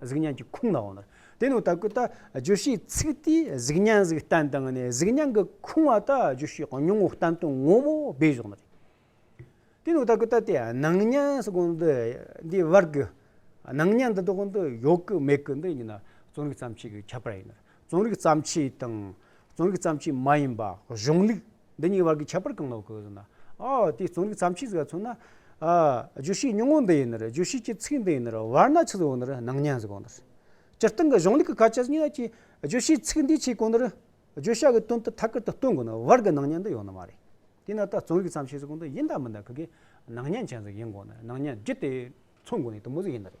གཟུགས་བརྙན་གྱི་ཁུངས་ལའང་ནོར། དེ་ནི་ད་གུ་ད་བརྗོད་བྱའི་ཚིག་དེས་གཟུགས་བརྙན་གཟུགས་བསྟན་དང་ནི་གཟུགས་བརྙན་གྱི་ཁུངས་བ་ད་བརྗོད་བྱའི་ཉུང་ངུ་བསྟན་དོན་ངོ་བོ་སྦས་བཞག་ནོ། དེ་ནི་ད་གུ་ད་དེ་སྣང་བརྙན་སོགས་གོང་དུ་འདིའི་བར་གྱི་སྣང་བརྙན་འདི་དག་ཏུ་ཡོད་ཀྱི་མེད་ཀྱི་འདི་གཉིས་ན་རྩོམ་རིག་ཙམ་ཞིག་གིས་ཁྱབ་པར་ཡིན་ནོ། རྩོམ་རིག་བརྩམས་ཆོས་དང། རྩོམ་རིག་བརྩམས་ཆོས་མ་ཡིན་པ། གཞུང་ལུགས། འདི་གཉིས་ཀྱི་བར་གྱི་ཁྱད་པར་གང་ལགས་སྐུ་ཟླ། ཨོ། དེ་རྩོམ་རིག་བརྩམས་ཆོས་ཟེར་བ་མཚོན་ན། བརྗོད་བྱའི་ཉུང་ངུ་འདི་ཡིན་ནོ། བརྗོད་བྱེད་ཀྱི་ཚིག་འདི་ཡིན་ནོ། བར་སྣང་ཆུ་ཟོ་ནི་སྣང་བརྙན་ཟེར་གོང་ནས། སྤྱིར་བཏང་གི་གཞུང་ལུགས་ཀྱི་ཁ་ཆད་གཉིས་ཀྱི། བརྗོད་བྱའི་ཚིག་འདི་ཆེས་གོང་ནས། བརྗོད་བྱ་གི་དོན་དུ་ཐད་ཀར་དུ་སྟོན་དགོས་ན་བར་གྱི་སྣང་བརྙན་འདི་ཡོད་ན་མ་རེད། དེས་ན་ད་རྩོམ་རིག་བརྩམས་ཆོས་ཟེར་གོང་འདི་ཡིན་དང་མིན་དང་གི་གི། སྣང་བརྙན་ཅན་ཟིག་ཡིན་དགོས་ནས་སྣང་བརྙན་བརྒྱུད་དེ། མཚོན་དགོས་ནས་དུ་མ་ཟིག་ཡིན་ན་རེད།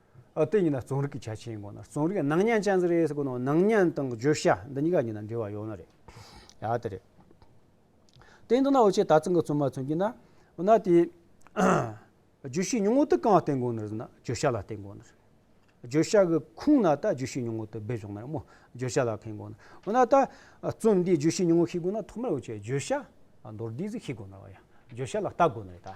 ཨ་དེ་གཉིས་ན་རྩོམ་རིག་གི་ཆ་ཆེན་གོ་ན་རྩོམ་རིག་ནང་ཉན་ཅན་ཟེར་རེ་ཟེར་གོ་ནོ་ནང་ཉན་དང་བརྗོད་བྱ་འདི་གཉིས་ཀ་གཉིས་ན་འབྲེལ་བ་ཡོད་ན་རེད་ཡ་དེ་རེད། དེ་མདོར་ན་འོ་ཆེ་ད་ཚང་གི་རྩོམ་མ་ཚོན་གྱི་ན་འོ་ན་དེ། བརྗོད་བྱའི་ཉུང་ངུ་དེ་གང་ལ་བརྟེན་དགོས་ནོ་ཟེར་ན་བརྗོད་བྱ་ལ་བརྟེན་དགོས་ནོ། བརྗོད་བྱ་གི་ཁུངས་ན་ད་བརྗོད་བྱའི་ཉུང་ངུ་དེ་སྦས་བྱུང་ན་རེད་མོ་བརྗོད་བྱ་ལ་ཕན་དགོས་ནོ། འོ་ན་ད་རྩོམ་འདིའི་བརྗོད་བྱའི་ཉུང་ངུ་ཤེས་དགོས་ན་ཐོག་མར་འོ་ཆེ་བརྗོད་བྱ་མདོར་བསྡུས་ཟིག་ཤེས་དགོས་ནོ་བ་ཡ་བརྗོད་བྱ་ལ་བལྟ་དགོས་ནོ་རེད་ད།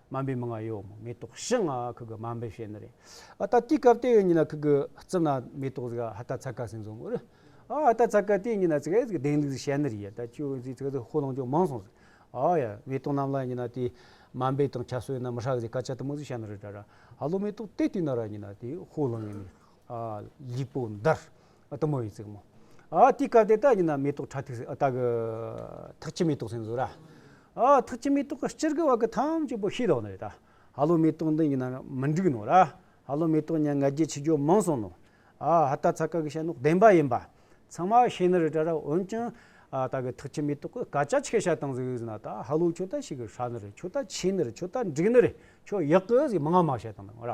སྨན་པའི་མི་ང་ཡོད་མོད་མེ་ཏོག་ཞི་ང་ཁུ་གུ་སྨན་པའི་ཞལ་ནི་རེད་ཨ་ད་དུས་སྐབས་དེ་ཡོད་ཉིན་ན་ཁུ་གུ་རྩི་ན་མེ་ཏོག་གཟིག་ཨ་ད་ཚ་ཀ་སིན་སོང་ཨུ་རུ་ཨ་ད་ཚ་ཀ་དེ་ཉིན་ན་ཚིག་གཟིག་དེང་དུས་ཞལ་ནི་རེད་ད་ཁྱོད་གཟིག་ཚིག་ད་ཧོ་ལོང་ཅུང་མང་སོང་ཟིག་ཨ་ཡ་མེ་ཏོག་རྣམས་ལ་ཉིན་ན་དེ་སྨན་པའི་དང་ཆ་སོ་ཡིན་ན་མི་ཧྲག་གཟིག་ཀ་ཆ་དུ་མོ་གཟིག་ཞལ་ནི་རེད་ད་ར་ཧ་ལོ་མེ་ཏོག་དེ་དུས་ན་ར་ཉིན་ན་དེ་ཧོ་ལོང་ཡིན་ནི་ལིག་པོ་འདར། གཏུམ་མོ་ཡི་རྩེག་མོ། དེའི་སྐབས་དེ་དག་ཡིན་ན་མེ་ཏོག་ཁྲ་ཐིགས་སེ་ད་གི། ཐག་ཆི་མེ་ཏོག་སེ་འཛུགས་ར། ཐག་ཆི་མེ་ཏོག་གི་སྤྱིར་གི་བ་གི་ཐམས་ཅད་པོ་ཤི་ལོག་ནོ་ཡོད་ད། ཧ་ལོ་མེ་ཏོག་འདི་ཡིན་ན་མི་འགྲིག་ནོ་ར། ཧ་ལོ་མེ་ཏོག་ཉ་ང་རྒྱལ་ཆི་རྒྱོ་མང་སོང་ནོ། ཧ་ད་ཚ་ཁ་གི་ཤ་ནོག་བདེན་པ་ཡིན་པ། ཚང་མ་ཤེས་ནི་རི་ཏྲ་ར་འོན་ཀྱང། ད་གི་ཐག་ཆི་མེ་ཏོག་གི་སྐ་ཅག་ཆི་གི་ཤ་དང་ཟིག་ན་ད་ཧ་ལོ་ཁྱོ་ད་ཤི་གི་ཧྲ་ནི་རེད་ཁྱོ་ད་ཆི་ནི་རེད་ཁྱོ་ད་འགྲིག་ནི་རེད་ཁྱོ་ཡག་གི་ཟིག་མང་མང་ཤ་དང་ནི་ར།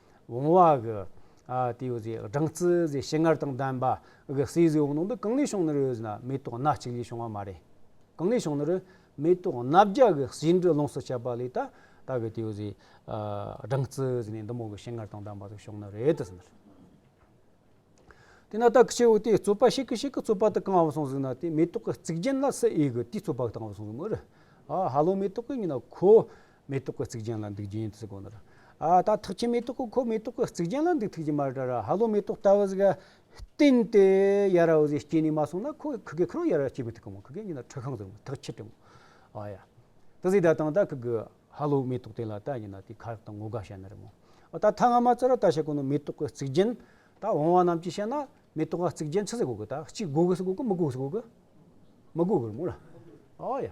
བོང་བ་གི། དེའི་འོད་ཟེར་སྦྲང་རྩི་ཟེར་ཞིང་མངར་དང་ལྡན་པ། གི་བསིལ་ཟེར་འོག་ནང་དུ་གང་ལས་བྱུང་ནི་རོའི་ནི་མེ་ཏོག་སྣ་གཅིག་ལས་བྱུང་བ་མ་རེད། གང་ལས་བྱུང་ནི་རོའི་མེ་ཏོག་སྣ་བརྒྱ་གི་བྱིན་གྱིས་རློངས་སུ་བྱས་པ་ལས་ད་ད་གི་དེའི་འོད་ཟེར། སྦྲང་རྩི་ཟེར་ནས་འདི་མོ་གི་ཞིང་མངར་དང་ལྡན་པ་ཟིག་བྱུང་ནི་རེད་དུ་ཟིན། དེ་ན་ད་གི་ཁྱེའུ་དེས་རྩོད་པ་ཤིག་གི་ཤིག་གི་རྩོད་པ་དེ་གང་བ་སོང་ཟིག་ན་དེ་མེ་ཏོག་གི་རྩིག་རྒྱན་ལ་སི་ཨི་གི་དེའི་རྩོད་པ་གང་བ་སོང་ཟིག་མོ་རེ། ཧ་ལོ་མེ་ཏོག་གི་ཉིན་ན་ཁོ། མེ་ཏོག་གི་རྩིག་གྱང་ལ་འདུག་རྒྱུ་ཡིན་དུ་ཟེར་གོ་ནོར། ཨ་ད་ཐག་ཆད་མེ་ཏོག་གི་ཁོ་མེ་ཏོག་གི་རྩིག་གྱང་ལ་འདུག་ཐུབ་ཀྱི་མ་རེད་ཧ་ལོ་མེ་ཏོག་ལྟ་བུ་ཟིག་བསྟན་ཏེ་ཡ་ར་འོ་ཟིག་སྐྱེས་ནས་མ་སོང་ན་ཁོ་གི་གི་རོ་ཡ་ར་སྐྱེས་དགོས་ཐུག་གི་མོ་གི་གི་ཉིན་ན་ཁྲི་ཤང་ཟེར་མོ་ཐག་ཆད་དྲི་མོ་ཨ་ཡ། ད་ཟིག་ད་དང་ད་གི་གི་ཧ་ལོ་མེ་ཏོག་དེ་ལ་ད་ཉིན་ན་དེ་ཁ་རག་དང་ངོ་དགའ་བྱ་ན་རེ་མོ་ཨ་ད་ཐ་ང་མ་ཚར་བ་ད་བྱ་གོ་ནོར་མེ་ཏོག་གི་རྩིག་གྱང་ད་འོང་བ་རྣམས་ཀྱིས་བྱ་ན་མེ་ཏོག་གི་རྩིག་གྱང་ཆི་ཟིག་གོ་གི་ད་གཅིག་གོ་གི་ཟིག་གོ་གི་མི་གོ་གི་ཟིག་གོ་གི་མི་གོ་གི་རེ་མོ་ར་ཨ་ཡ།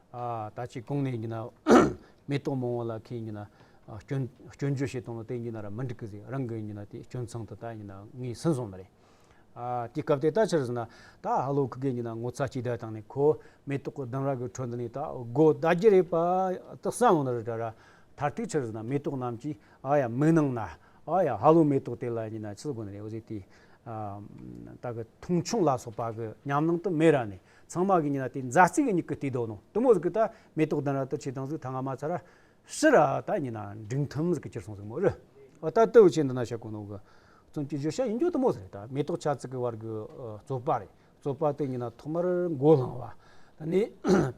ད་ཅིག་གོང་ནས་ཡིན་ན་མེ་ཏོག་མང་བོ་ལ་ཁས་ཡིན་ན་སྐྱོན་སྐྱོན་བརྗོད་བྱེད་སྟངས་ལ་བལྟས་ཡིན་ན་ར་མི་འགྲིག་གི་ཟིག་རང་གི་ཡིན་ན་དེ་སྐྱོན་མཚང་དུ་ད་ཡིན་ན་ངའི་སེམས་བཟང་མ་རེད། དེ་སྐབས་དེ་ད་ཕྱིར་ཟིན་ན་ད་ཧ་ལོ་ཁུ་གེ་ཡིན་ན་ངོ་ཚ་གཅིག་སྡད་བཏང་ནས་ཁོ་མེ་ཏོག་གི་གདང་ར་གི་ཁྲོད་འདི་ནས་ད་སྒོ་ཟླ་རྒྱུ་རེད་པ་ད་བསམ་ཡོང་ན་རེད་དྲ་ར་མཐར་ཐུག་ཕྱིར་ཟིན་ན་མེ་ཏོག་རྣམས་ཀྱིས་ཨ་ཡ་མི་གནང་ན་ཨ་ཡ་ཧ་ལོ་མེ་ཏོག་དེ་ལ་ཡིན་ན་ཕྱིར་དགོན་རེད་འོ་ཟེར་དེ་ད་གི་ཐུང་ཆུང་ལ་སོགས་པ་གི་ཉམས་སྣང་དུ་མེད་ར་ནས་ཚང་མ་གི་ཉིན་ལ་དེ་མཛའ་བརྩེ་གི་མྱུ་གུ་དེ་དོན་ནོ་དུ་མོ་གཟུགས་གི་ད་མེ་ཏོག་ལྡན་ར་ཏུ་ཆེ་དང་གཟུགས་ཐ་ང་མ་ཚ་ར་ཤི་ར་ད་ཉིན་ན་འབྲིང་ཐུམ་གཟུགས་གི་ཅིར་སོང་གཟུགས་མོ་རི་བ་ད་དུ་ཆེ་འདི་ན་ཤ་ཀུ་ནོ་གི་ཙུམ་གྱི་བཞུར་ཤ་ཡིན་རྒྱུ་དུ་མོ་ཟེར་ད་མེ་ཏོག་ཆ་ཚིག་གི་བར་གི་རྩོད་པ་རེད་རྩོད་པ་དེ་ཉིན་ན་ཐོག་མར་མགོ་བསླང་བ་ད་ནི་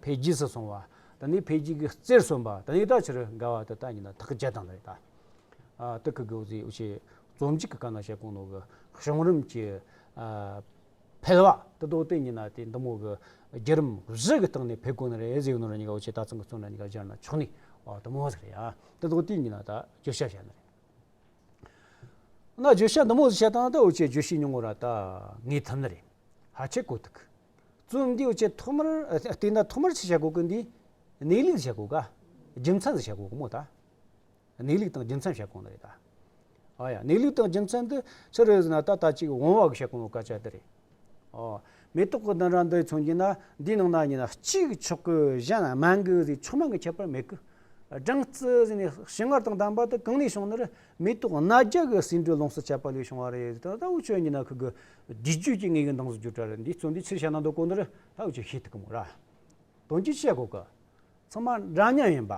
འཕེལ་རྒྱས་སུ་སོང་བ་ད་ནི་འཕེལ་རྒྱས་ཀྱི་རྩེར་སོན་པ་ད་ནི་ད་ཕྱིར་འགའ་བ་དེ་ད་ཉིན་ན་ཐག་བཅད་དང་རེད་ད་ཏུ་གི་གི་འོ་ཟེ་འོ་ཆེ་རྩོམ་གཅིག་གི་སྐབས་ན་ཤ་ཀུ་ནོ་གི་བྱུང་རིམ་གྱི་འཕེལ་བ། དུ་དོགས་དེ་ཉིད་ན་དེ་འདི་མོ་གི། རྒྱུ་རིམ་བཞི་གི་སྟེང་ནས་འཕེལ་དགོས་ན་རེ་གཟིགས་ནོར་གཉིས་ཀ་འོ་ཆེ་ད་ཚང་གི་གཙོ་ན་གཉིས་ཀ་སྦྱར་ན་ཆོག་ནི། དུ་མོ་ཟེར་ཡང་དུ་དོགས་དེ་ཉིད་ན་ད་བརྗོད་བྱ་བྱས་ན་རེ། ན་བརྗོད་བྱ་འདི་མོ་ཟེར་བྱ་དང་ད་འོ་ཆེ་བརྗོད་བྱའི་མྱོང་བོ་ར་ད་ངེས་ཐུབ་ནི་རེ། ཧ་ཆེ་གོ་ཐུག་གི། རྩོམ་འདི་འོ་ཆེ་ཐོག་མར་བལྟས་ན་ཐོག་མར་ཆེ་བྱ་གོ་གི་འདི། གནས་ལུགས་ཟེར་བྱ་གོ་ག། རྒྱུ་མཚན་ཟེར་བྱ་གོ་གི་མོ་ད། གནས་ལུགས་དང་རྒྱུ་མཚན་བཤད་གོང་ལ་རེད་ད། ཨ་ཡ། གནས་ལུགས་དང་རྒྱུ་མཚན་འདི་ཕྱི་རོལ་ཟེར་ན་ད་ལྟ་ཅིག་འོང་བ་གི་བཤད་གོང་གི་སྐད་ཆ་འདི་རེད། ཨོ། མེ་ཏོག་གི་བདུན་ར་འདི་མཚོན་གྱིན་ན་འདིའི་ནང་ན་གཉིས་ན་གཅིག་ཆོག་གི་གཞན་སྨན་གི་ཟས་ཆུང་མ་གི་ཁྱད་པར་མེད་གི། སྦྲང་རྩི་ཟེར་ནས་ཞིམ་མངར་དང་ལྡན་པ་དེ་གང་ནས་བྱུང་ན་རེད་མེ་ཏོག་སྣ་བརྒྱ་གི་ཟེའུ་འབྲུ་ལོངས་སུ་སྤྱད་པ་ལས་བྱུང་བ་རེད་ཟེར་ད་ད་འུ་ཆོས་གཉིས་ན་ཁུག་གི་བསྡུས་རྒྱུད་ཀྱི་ངེས་གི་མདངས་སུ་གྱུར་གྲ་རེད་འདིའི་གཙོ་འདི་ཕྱིར་བཤད་ན་འདོད་གོ་འདི་རེད་ད་འུ་ཅིག་ཤེས་ཐུབ་གི་མོ་ར། དོན་གྱི་བཤད་གོ་གི། ཚང་མ་འདྲ་མཉམ་ཡིན་པ།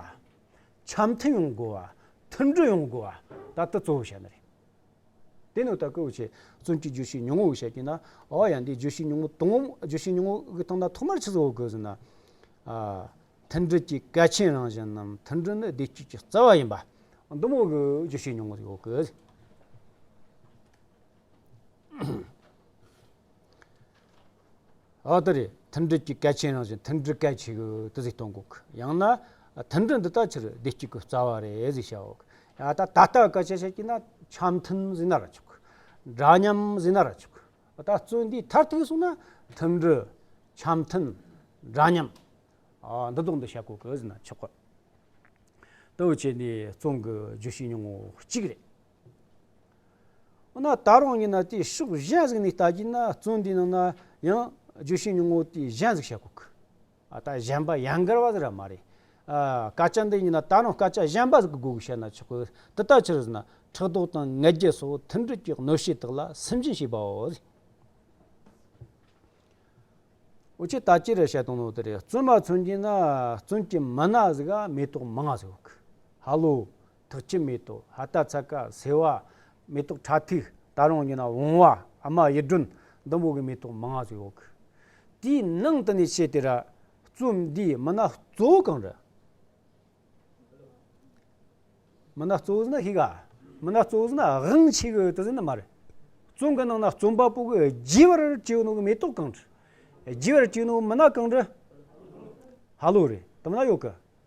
འཆམ་མཐུན་ཡོང་དགོས་བ། མཐུན་སྒྲིལ་ཡོང་དགོས་བ། ད་ལྟ་གཙོ་བོ་བྱས་ནི་རེད། དེ་ནི་ད་སྐུལ་བྱེད་བཙོན་གྱི་བརྗོད་གཞི་ཉུང་ངུ་བཤད་ཀྱིན་ན། ཨོ་ཡ་འདི་བརྗོད་གཞི་ཉུང་ངུ་དང། བརྗོད་གཞི་ཉུང་ངུ་དང་ན་ཐོག་མར་ཕྱི་ཚུལ་བ་དགོས་ཟེར་ན། མཐུན་སྒྲིལ་གྱི་གལ་ཆེན་རང་བཞིན་ནམ་མཐུན་སྒྲིལ་ནི་བདེ་སྐྱིད་ཀྱི་རྩ་བ་ཡིན་པ། འདི་མོ་གི་བརྗོད་གཞི་ཉུང་ངུ་ཡོད་དགོས། ཨ་ད་རེས་མཐུན་སྒྲིལ་གྱི་གལ་ཆེན་རང་བཞིན་མཐུན་སྒྲིལ་གལ་ཆེ་གི་དུ་ཟིག་གཏོང་དགོས་གི་ཡང་ན། མཐུན་སྒྲིལ་འདི་དག་ཕྱིར་བདེ་སྐྱིད་གི་རྩ་བ་རེད་ཟིག་བྱའོ་གི་ཡང་ད་ད་ལྟ་སྐད་ཆ་བཤད་ཀྱི་ན་འཆམ་མཐུན་ཟིག་ན་ར་ཆོག་གི། འདྲ་མཉམ་ཟིག་ན་ར་ཆོག་གི་ད་བརྩོན་འདིའི་མཐར་ཐུག་གསུང་ན་མཐུན་སྒྲིལ། འཆམ་མཐུན། འདྲ་མཉམ། འདི་དག་འདི་བྱ་དགོས་གི་ཟིག་ན་ཆོག་གི། ལྟོས་བཅས་ནས་བརྩོན་གི་བརྗོད་བྱའི་ཉུང་ངུ་གཅིག་རེད། འོ་ན་ད་རང་ཉིད་ན་དེའི་ཕྱོགས་གཞན་གཟིགས་ནས་བལྟ་རྒྱུ་ན་བརྩོན་འགྲུས་ནང་ན་ཡང་རྒྱུ་ཤིང་ཉུང་ངུ་དེའི་གཞན་གཟིགས་བྱེད་དགོས་ཀི། ད་གཞན་པ་ཡང་འགལ་བ་ཟེར་ར་མ་རེད། སྐད་ཆ་འདི་ཉིད་ན་ད་རང་སྐད་ཆ་གཞན་པ་གཟིགས་དགོས་ཞེས་ན་ཆོག་གི་དེ་ལྟ་ཕྱིར་ཟེར་ན་ཕྲག་དོག་དང་ངལ་བརྒྱད་སོགས་མཐུན་སྒྲིལ་གྱི་གནོད་བྱེད་དག་ལ་སེམས་ཅན་ཞེས་པའོ། འོ་ཅི་ལྟར་ཅི་རེད་བཤད་དོན་ནོ་དེ་རེད་བརྩོན་པ་མཚོན་གྱིན་ན་བརྩོན་གྱི་མི་སྣ་གཟིགས་ཨ་མེ་ཏོག་མི་ལྔ་གཟིགས་དགོས་ཀི། ཧ་ལོ། ཐག་ཆོད་མེད་དོ། ཧ་ལྟ་ཚ་ཀ་སེ་བ། མེ་ཏོག་ཁྲག་ཐིགས་ད་རུང་ཉོ་ན་འོང་བ། ཨ་མ་ཡེ་སྒྲོན་འདམ་བུ་གི་མེ་ཏོག་མ་ང་ཚོ་ཡོག་གི། དེའི་ནང་དུ་ནས་བཤད་དེ་ར། རྩོམ་འདིའི་མི་སྣ་གཙོ་བོ་གང་རེད། མི་སྣ་གཙོ་བོ་ཟེར་ན་ཤི་ག། མི་སྣ་གཙོ་བོ་ཟེར་ན་དབྱངས་ཆེ་གི་དེ་ཟེར་ན་མ་རེད། རྩོམ་གི་ནང་ན་རྩོམ་པ་པོ་གི་རྒྱས་པར་བྱས་ཡོད་ནོ་གི་མེ་ཏོག་གང་རེད། རྒྱས་པར་བྱས་ཡོད་ནོ་གི་མི་སྣ་གང་རེད། ཧ་ལོ་རེད་དེ་མ་ཡོག་གི།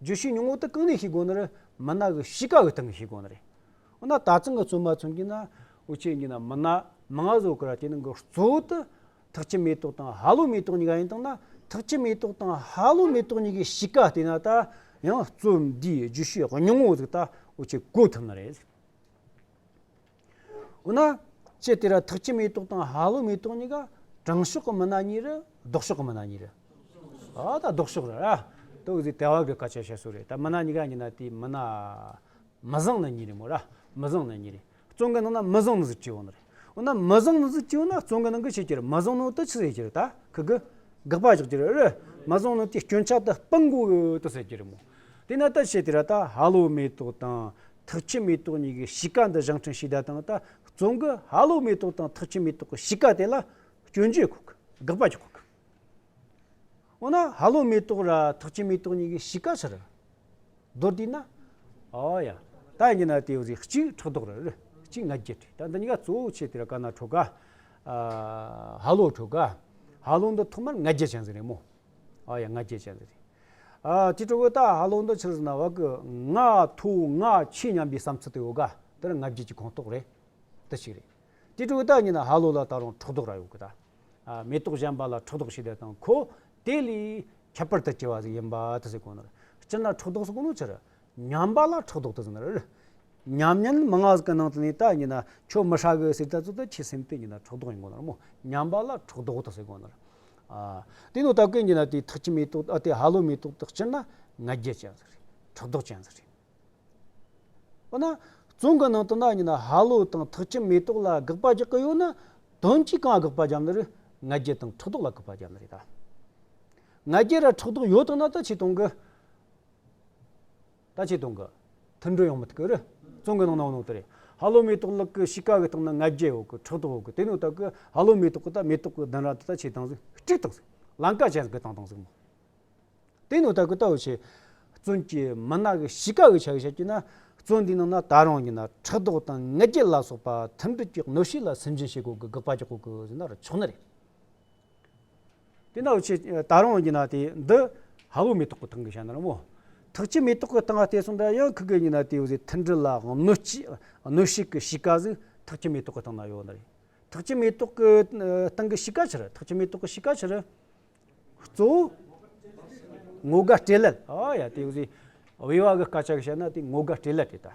བརྗོད་གཞི་ཉུང་ངུ་དེ་གང་ནས་ཤེས་དགོས་ན་རེད། མི་ནག་གི་གཤིས་ཀ་གི་སྟེང་གི་ཤེས་དགོས་ན་རེད། འོ་ན་ད་ཚང་གི་བཙུན་མ་ཚོ་གྱིས་ན་འོ་ཁྱེད་གྱིས་ན་མི་ནག་མི་ང་བཟོ་གི་ར་དེ་ནང་གི་གཙོ་བོ་དེ་ཐག་ཆུ་མེ་ཏོག་དང་ཧ་ལོ་མེ་ཏོག་གཉིས་ཀ་ཡིན་སྟངས་ན་ཐག་ཆུ་མེ་ཏོག་དང་ཧ་ལོ་མེ་ཏོག་གཉིས་ཀའི་གཤིས་ཀ་ལྟས་ན་ད་ཡང་བཙུན་འདིས་བརྗོད་གཞི་ཉུང་ངུ་ཟིག་ད་འོ་ཁྱེད་གོ་ཐུབ་ན་རེད། འོ་ན། ཅི་དེ་ར་ཐག་ཅི་མེ་ཏོག་དང་ཧ་ལོ་མེ་ཏོག་གཉིས་ཀ་དྲང་ཕྱོགས་ཀྱི་མི་སྣ་གཉིས་རེད་ལྡོག་ཕྱོགས་ཀྱི་མི་སྣ་གཉིས་རེད། ཨ་ད་ལྡོག་ཕྱོགས་རེད་ར། ཏོག་ཙེ་དལ་བ་གི་སྐད་ཆ་བཤད་སྲོལ་རེད་ད་མི་སྣ་གཉིས་ཀ་གཉིས་ན་དེའི་མི་སྣ། མི་བཟང་ནི་གཉིས་རེད་མོ་ར། མི་བཟང་ནི་གཉིས་རེད། བཙོན་གི་ནང་ན་མི་བཟང་ནི་གཅིག་ཡོང་ནི་རེད། འོ་ན་མི་བཟང་ནི་གཅིག་ཡོང་ན་བཙོན་གི་ནང་གི་ཕྱི་རྒྱུར་མི་བཟང་ནོ་ཏི་ཆི་ཟེར་གྱི་རེད་ད་ཁི་གི། དགག་པ་རྒྱག་རྒྱུ་རེད་རེད། མི་བཟང་ནོ་ཏི་སྐྱོན་ཆག་ཏི་སྤང་དགོས་ཏི་ཟེར་གྱི་རེད་མོ། དེ་ན་ཏི་ཆི་དེ་ར་ད་ཧ་ལོ་མེ་ཏོག་དང། ཐག་ཆུ་མེ་ཏོག་གཉིས་ཀྱི་གཤིས་ཀ་འདི་གཞང་ཕྲན་ཕྱི་ཟླ་དང་ད་བཙོན་གྱི་ཧ་ལོ་མེ་ཏོག་དང་ཐག་ཆུ་མེ་ཏོག་གི་གཤིས་ཀ་དེ་ལ་སྐྱོན་བརྗོད་གོ་གི་དགག་པ་བྱེད་དགོས་གི་འོ་ན་ཧ་ལོ་མེ་ཏོག་ར་ཐག་ཆུ་མེ་ཏོག་གཉིས་ཀྱི་གཤིས་ཀ་ཕྱི་རུ་རྡོར་དུས་ན་ཨོ་ཡ་ད་ཡིན་གྱི་ན་དེའི་རིགས་གཅིག་ཕྲག་དོག་རེད་རེད་གཅིག་ང་རྒྱལ་རེད་ད་འདི་གཉིས་ཀ་གཙོ་བོ་ཆེ་དེ་ར་ག་ན་ཁྲོ་ག་ཧ་ལོ་ཁྲོ་ག་ཧ་ལོ་འདི་ཐོག་མར་ང་རྒྱལ་བྱང་ཟིག་རེད་མོ། ཨ་ཡ་ང་རྒྱལ་ཅན་ལ་རེ། ཨ་ཏི་ཀྲོ་བོ་ཏཱ་ཧ་ལོ་འདོ་ཆིར་ཟིན་ན་བ་ཀི་ང་ཐུ་ང་ཆི་སྙམ་པའི་བསམ་ཚུལ་དུ་ཡོད་ག་དེ་རང་ང་རྒྱལ་གྱི་ཁོངས་གཏོགས་རེད་དུ་ཞིག་རེད། ཏི་ཀྲོ་བོ་ཏཱ་ཉིད་ན་ཧ་ལོ་ལ་ད་རུང་ཁྲག་དོག་ར་ཡོད་གི་ད། མེ་ཏོག་གཞན་པ་ལ་ཁྲག་དོག་ཞིག་ལས་དང་ཁོ་དེ་ལས་ཁྱད་པར་དུ་སྐྱེ་བ་ཟིག་ཡིན་པ་དུ་ཟིག་གོ་ནོར་སྤྱིར་ན་ཁྲག་དོག་སུ་གོ་ནོར་ཆིར་ཉམས་པ་ལ་ཕྲག་དོག་ཏུ་ཟིན་རེད། ཉམས་ཉེན་མི་མངའ་ཟིག་གི་ནང་དུ་ནས་ད་ཉིན་ན་ཁྱོད་མི་ཧྲ་གི་ཟིག་ད་ཙུ་ད་ཁྱི་སེམས་དེ་ཉིན་ན་ཕྲག་དོག་ཡིན་གོ་ནར་མོ་ཉམས་པ་ལ་ཕྲག་དོག་ཏུ་ཟིག་གོ་ནར། དེ་ནོ་ད་གི་ཉིན་ན་དེ་ཐག་ཁྱི་མེད་དོག་ཨ་དེ་ཧ་ལོ་མེད་དོག་ཏུ་སྤྱིར་ན་ང་རྒྱལ་ཅན་ཟིག་རེད་ཕྲག་དོག་ཅན་ཟིག་རེད། འོ་ན་བཙོན་གི་ནང་དུ་ན་ཉིན་ན་ཧ་ལོ་དང་ཐག་ཁྱི་མེད་དོག་ལ་དགག་པ་རྒྱག་གི་ཡོད་ན་དོན་གྱིས་གང་དགག་པ་རྒྱབ་ནི་རེད་ང་རྒྱལ་དང་ཕྲག་དོག་ལ་དགག་པ་རྒྱབ་ནི་རེད་ད། ང་རྒྱལ་ར་ཕྲག་དོག་ཡོད་དང་ན་ད་ཆེ་དང་གི། ད་ཆའི་དོན་གྱི་མཐུན་འགྲོས་ཡོང་མི་ཐུབ་ཀི་རེད། རྩོམ་གྱི་ནང་ནའང་དེ་རེད། ཧ་ལོ་མེ་ཏོག་ལགས་ཀྱི་གཤིས་ཀ་གི་སྟེང་ན་ང་རྒྱལ་འོག་གི་ཕྲག་དོག་འོག་གི་དེ་ནི་ད་གི་ཧ་ལོ་མེ་ཏོག་གི་ད་མེ་ཏོག་གི་གདན་ར་འདི་ད་ཆའི་དང་ཟིག་སྤྲིག་དང་ཟིག་ལང་ཀ་ཅན་གི་དང་དང་ཟིག་མོ། དེ་ནི་ད་གི་ད་འོ་ཆའི་བཙོན་གྱི་མི་ནག་གི་གཤིས་ཀ་གི་ཆ་གི་བཤད་རྒྱུ་ན་བཙོན་དེའི་ནང་ན་ད་རང་ཉིད་ན་ཕྲག་དོག་དང་ང་རྒྱལ་ལ་སོགས་པ་མཐུན་འགྲོས་ཀྱི་གནོད་ཤུགས་ལ་སེམས་ཅན་ཞིག་འོག་གི་དགག་པ་ཀྱི་འོག་གི་ཟིན་ན་ར་ཆོག་ནི་རེད། དེ་ན་འོ་ཆེ། ད་རུང་ཉི་ན་དེ་འདི། ཧ་ཝུ་མེ་ཏོག་གི་ཐང་གི་ཤ་ནར་མོ། ཐག་ཅི་མེ་ཏོག་གི་ཐང་ལྟས་སུ་འདྲ་ཡང་ཁུ་གེ་ཉི་ན་དེའུ་ཟེ་ཐིལ་འདྲི་ལ་གནོད་སྐྱི་གནོད་ཤིག་གི་ཤི་ཀ་ཟིག་ཐག་ཅི་མེ་ཏོག་གི་ཐང་ན་ཡོད་ན་རེད། ཐག་ཅི་མེ་ཏོག་གི་ཐང་གི་ཤི་ཀ་ཆི་རི་ཐག་ཅི་མེ་ཏོག་གི་ཤི་ཀ་ཆི་རི། གཙོ་བོ། ངོ་དགའ་སྤྲེལ་ལད་ཨ་ཡ་དེའུ་ཟེ་དབྱེ་བ་གི་དཀའ་ཆག་གི་ཤ་ན་དེ་ངོ་དགའ་སྤྲེལ་ལད་དེ་ལྟ།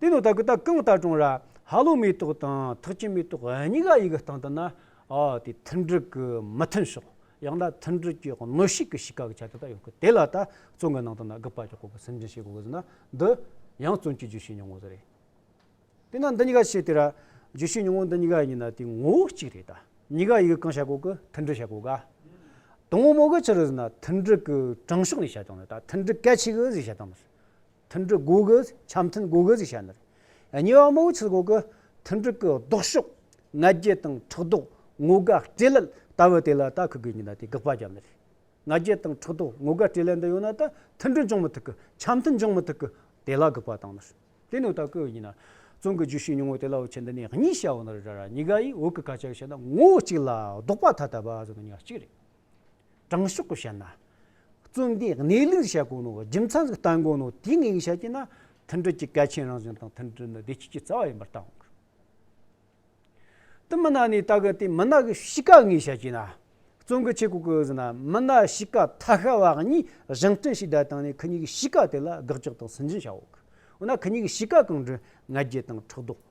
དེ་ནི་ད་གི་ད་གང་ལྟར་གྲོང་ར་ཧ་ལོ་མེ་ཏོག་དང་ཐག་ཆེན་མེ་ཏོག་གཉིས་ཀ་ཡི་གི་སྟངས་དང་ན་ཨ་དེ་མཐུན་སྒྲིལ་གི་མི་མཐུན་ཕྱོགས་ཡང་ན་མཐུན་སྒྲིལ་གྱི་གནོད་ཤུགས་གི་ཤི་ཁ་གི་ཆ་དེ་དག་ཡོང་གི་དེ་ལ་ད་བཙོན་གི་ནང་དུ་ན་གི་དཔའ་ཀྱི་ཁོག་གི་སེམས་ཅན་ཞིག་གོ་གི་ཟིན་ན་འདི་ཡང་བཙོན་གྱི་རྒྱུ་ཤི་མྱོང་གི་ཟེ་རེད་དེ་ན་འདི་གཉིས་ཀ་ཤི་དེ་ར་རྒྱུ་ཤི་མྱོང་འདི་གཉིས་ཀ་ཡི་གཉིས་ན་དེ་ངོ་བོ་གཅིག་རེད་ད་གཉིས་ཀ་ཡི་གི་གང་བྱ་གོ་གི་མཐུན་སྒྲིལ་བྱ་གོ་ག་དང་མོ་གི་ཕྱིར་ཟིན་ན་མཐུན་སྒྲིལ་གི་དྲང་ཕྱོགས་ནས་བྱ་སྟངས་ནི་ད་མཐུན་སྒྲིལ་གལ་ཆེ་གི་ཟེ་བྱ་སྟངས་མི་སྲིད། མཐུན་འགྲིག་སྒོ་དབྱེ་འཆམ་མཐུན་སྒོ་དབྱེ་བྱས་ནས། ཉེ་བའི་དམག་ཆེན་འོག་གི་མཐུན་འགྲིག་གི་ལྡོག་ཕྱོགས་ང་རྒྱལ་དང་ཕྲག་དོག་ངོ་དགའ་སྤྲེལ་ལད་ལྟ་བུ་དེ་ལ་ལྟ་ཁུ་དགོས་ངེས་ན་དེ་དགག་པ་བརྒྱབ་ནས། ང་རྒྱལ་དང་ཕྲག་དོག་ངོ་དགའ་སྤྲེལ་ལད་འདི་ཡོད་ན་ད་མཐུན་འགྲིག་འབྱུང་མི་ཐུབ་གི་འཆམ་མཐུན་འབྱུང་མི་ཐུབ་གི་དེ་ལ་དགག་པ་བཏང་ནས། དེ་ནས་ལྟ་ཁུ་ཡོད་ངེས་ན། བཙོན་གྱི་རྒྱུ་ཤིག་ཉུང་ངུ་དེ་ལ་འོད་ཆེན་འདི་ནས་གཉིས་བྱ་འོ་ན་རེ་ར་ར་ཉི་དགའ་ཡིས་འོད་ཀྱི་ཁ་ཆག་བྱས་ན་ངོ་བོ་གཅིག་ལ་ལྡོག་པ་ཐ་དད་པ་བཟོ་ན་ཉག་གཅིག་རེད། དྲང་ཕྱོགས་བཤད་ན། བརྩོན་ལྡན་གནས་ལུགས་བཤད་དགོས་ནོ། རྒྱུ་མཚན་ཞིག་བསྟན་དགོས་ནོ། དེ་ངེས་བཤད་ཀྱི་ན་མཐུན་སྒྲིལ་གྱི་གལ་ཆེན་རང་བཞིན་དང་མཐུན་སྒྲིལ་ནི་བདེ་སྐྱིད་ཀྱི་རྩ་བ་ཡིན་པར་བསྟན་དགོས། དུ་མི་ནག་ནས་ད་གི་དེ་མི་ནག་གི་གཤིས་ཀ་ངེས་བཤད་ཀྱི་ན། བརྩོན་གི་ཆེ་གོ་གི་ཟིན་ན་མི་ནག་གཤིས་ཀ་ཐ་ཤལ་བ་གཉིས་གཞང་བསྟེན་ཞིག་བསྡད་དང་ནས་གི་གཉིས་གི་གཤིས་ཀ་དེ་ལ་དགག་རྒྱག་དང་སུན་འབྱིན་བྱ་འོ་གི་འོ་ན་གི་གཉིས་གི་གཤིས་ཀ་གང་འདྲི་ང་རྒྱལ་དང་ཕྲག་དོག།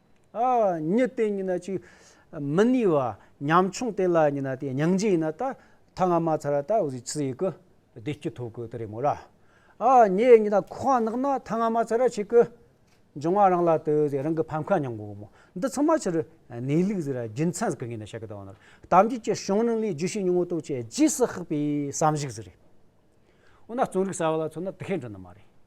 ཉི་སྟེ་ཉི་ན་ཅིག། མི་གནས་བ། ཉམ་ཆུང་སྟེ་ལ་ཉི་ན་སྟེ་སྙིང་རྗེ་ཡིན་ན་ད་ཐ་ང་མ་ཚར་ད་འོ་ཚི་ཡི་གི། བདེ་སྐྱིད་ཐོག་གི་དེ་རེད་མོ་ལ། ཉེ་ཉི་ན་ཁོ་གང་ནག་ན་ཐ་ང་མ་ཚར་ཆིག་གི། འབྱུང་བ་རང་ལ་དུ་ཟེ་རང་གི་ཕམ་ཁ་མྱང་གོ་མོ། འདི་ཚང་མ་ཕྱིར་གནས་ལུགས་ཟེ་ར་རྒྱུ་མཚན་གི་ངེས་ན་བཤད་གི་དང་ནོར་དམ་བཅས་ཀྱི་གཞུང་རྣམས་ལས་རྒྱུ་ཤེས་ཉུང་ངུ་རྟོགས་བྱེད་རྗེས་སུ་ཧག་པའི་བསམ་གཞིག་ཟེ་རེད། འོ་ན་རྩོམ་རིག་གསར་བ་ལ་མཚོན་ན་དེ་ཧེ་འགྲོ་ནི་མ་རེད།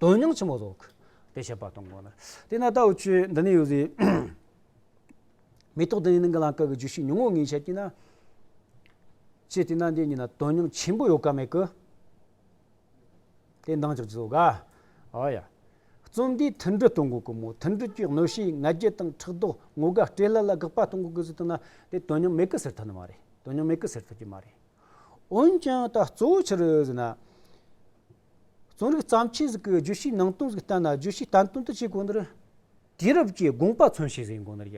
དོན་སྙིང་ཆེན་པོ་རྫོགས། དེ་བཤད་པ་དང་དགོངས་ལ། དེས་ན་ལྟ་བུ་བཅུ་འདི་ནི་ཡོད་ཟེར། མེ་ཏོག་འདི་ནི་རྣམ་འགྱུར་ལང་ཀ་གི་རྒྱུ་ཞིག་ཉུང་ངུ་ངས་བཤད་ཀྱིས་ན། ཅི་སྟེ་ན་འདི་གཉིས་ན་དོན་སྙིང་ཆེན་པོ་ཡོད་ཀ་མེད་ཀི། དེ་འདང་ཅིག་བརྫོད་དགའ། ཨོ་ཡ། རྩོམ་འདིའི་མཐུན་སྒྲིལ་གཏོང་དགོས་ཀི་མོད་མཐུན་སྒྲིལ་གྱི་གནོད་བྱེད་ང་རྒྱལ་དང་ཕྲག་དོག་ངོ་དགའ་སྤྲེལ་ལད་ལ་དགག་པ་གཏོང་དགོས་ཀི་ཟེར་ཐུག་ན་དེ་དོན་སྙིང་མེད་ཀི་ཟེར་ཐུབ་ནི་མ་རེད་དོན་སྙིང་མེད་ཀི་ཟེར་ཐུབ་ཀྱི་མ་རེད། འོན་ཀྱང་ད་གཙོ་བོ་ཕྱིར་ཟེར་ན། རྩོམ་རིག་བརྩམས་ཆོས་ཤིག་གི་བརྗོད་གཞིའི་ནང་དོན་ཞིག་བསྟན་ན་བརྗོད་གཞི་བསྟན་དོན་དུ་བྱས་དགོས་ནའི་དུས་རབས་ཀྱི་དགོངས་པ་མཚོན་བྱེད་ཟེར་དགོས་ནའི་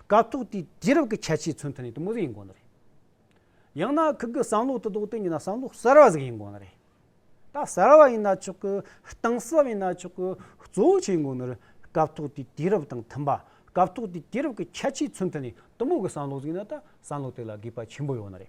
སྐབས་ཐོག་དེའི་དུས་རབས་ཀྱི་ཁྱད་ཆོས་མཚོན་ཐུབ་ནའི་དུ་མ་ཟེར་དགོས་ནའི་ཡང་ན་ཁུལ་གྱི་བསམ་བློ་དུ་བཟློག་དུས་ཡིན་ན་བསམ་བློ་གསར་བ་ཟེར་དགོས་ནའི་ད་གསར་བ་ཡིན་ན་ཆོག་གི་གཏིང་ཟབ་ཡིན་ན་ཆོག་གི་གཙོ་བོ་བྱེད་དགོས་ནའི་སྐབས་ཐོག་དེའི་དུས་རབས་དང་མཐུན་པ་སྐབས་ཐོག་དེའི་དུས་རབས་ཀྱི་ཁྱད་ཆོས་མཚོན་ཐུབ་ནའི་དུ་མ་གི་བསམ་བློ་ཟེར་ན་ད་བསམ་བློ་དེ་ལ་དགོས་པ་ཆེན་པོ་ཡོད་ནའི་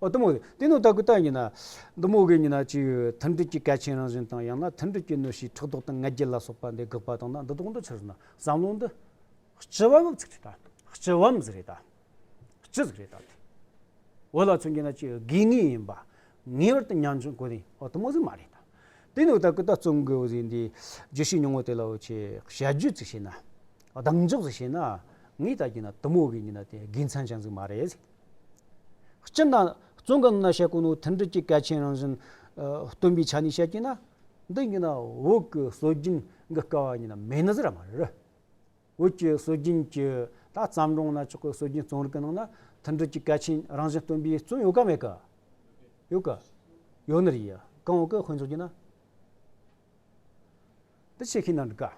ཨོ་དུམ་བུ། དེ་ནི་ད་གུ་ད་ཡིན་ན། དུམ་བུ་གི་ཉིན་ན་ཅི་ཡོད། མཐུན་སྒྲིལ་གྱི་གལ་ཆེན་རང་བཞིན་དང་ཡང་ན་མཐུན་སྒྲིལ་གྱི་གནོད་གཞིའི་ཕྲག་དོག་དང་ངལ་རྒྱལ་ལ་སོགས་པ་འདི་དགག་པ་དང་ན་འདི་དོགས་འདི་ཕྱིར་ན་བསམ་བློ་འདི། སྤྱི་བའམ་ཚིག་ཕྲད་དང། སྤྱི་བའམ་གཟིགས་རེད་དང། སྤྱི་གཟིགས་རེད་དང། བོད་ལ་མཚོན་གྱི་ན་ཅི་ཡོད་དགོས་ངེས་ཡིན་པ། ངེས་པར་དུ་ཉམས་ཆུང་གོ་ནི་ཨོ་དུམ་བུ་གཟིགས་མ་རེད་དང། དེ་ནི་ད་གུ་ད་བརྩོན་དགོས་བུ་ཟིན་འདི། རྒྱུ་ཤེས་མྱོང་བོ་དེ་ལ་བོ་ཆེ། བཤད་རྒྱུ་ཚིག་ཤེས་ན། གདེང་འཇོག་ཟིག་བྱེད་ན། ངས་ད་གྱིས་ན་དུམ་བུ་གི་ཉིན་ན་དེ་དགེ་མཚན་ཅན་ཟིག་མ་རེད་ཟིག། སྤྱིར་ན། བཙོན་གྱི་གནའ་ཤེལ་ཀུན་ནོ་མཐུན་སྒྲིལ་གྱི་གལ་ཆེན་རང་བཞིན། སྟོན་པའི་ཆ་ནས་བཤད་ཀྱིན་ན། འདི་ཉིད་ན་འོད་ཀྱི་སྲོལ་རྒྱུན་གྱི་སྐལ་བ་ཉིད་ན་མེད་ན་ཟེར་བ་མ་རེད། འོད་ཀྱི་སྲོལ་རྒྱུན་གྱི་ད་བརྩམས་སྒྲུང་གནའ་ཕྱོགས་ཀྱི་སྲོལ་རྒྱུན་རྩོམ་རིག་གི་ནང་ན་མཐུན་སྒྲིལ་གྱི་གལ་ཆེན་རང་བཞིན་སྟོན་པའི་བཙོན་ཡོད་གམ་མེད་གི། ཡོད་གི། ཡོད་ནི་རེད། གང་འོག་གི་དཔེ་མཚོན་གྱིས་ན། འདི་ཆེ་ཤེས་ན་འགྲུ་དཀའ།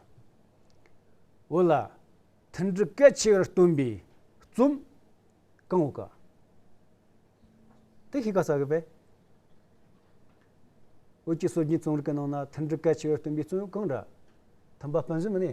འོ་ལ། མཐུན་འགྲུ་སྐད་ཆེ་བར་སྟོན་པའི་རྩོམ། གང་འོ་ཀ། དེ་ཤེས་ཀ་ས་གི་བས། འོ་ཅི་སོ་གཉིས་རྩོམ་རིག་གི་ནང་ན་མཐུན་འགྲུ་སྐད་ཆེ་བར་སྟོན་པའི་རྩོམ་གང་འདྲ། མཐུན་པ་སྤུན་ཟུམ་ནི།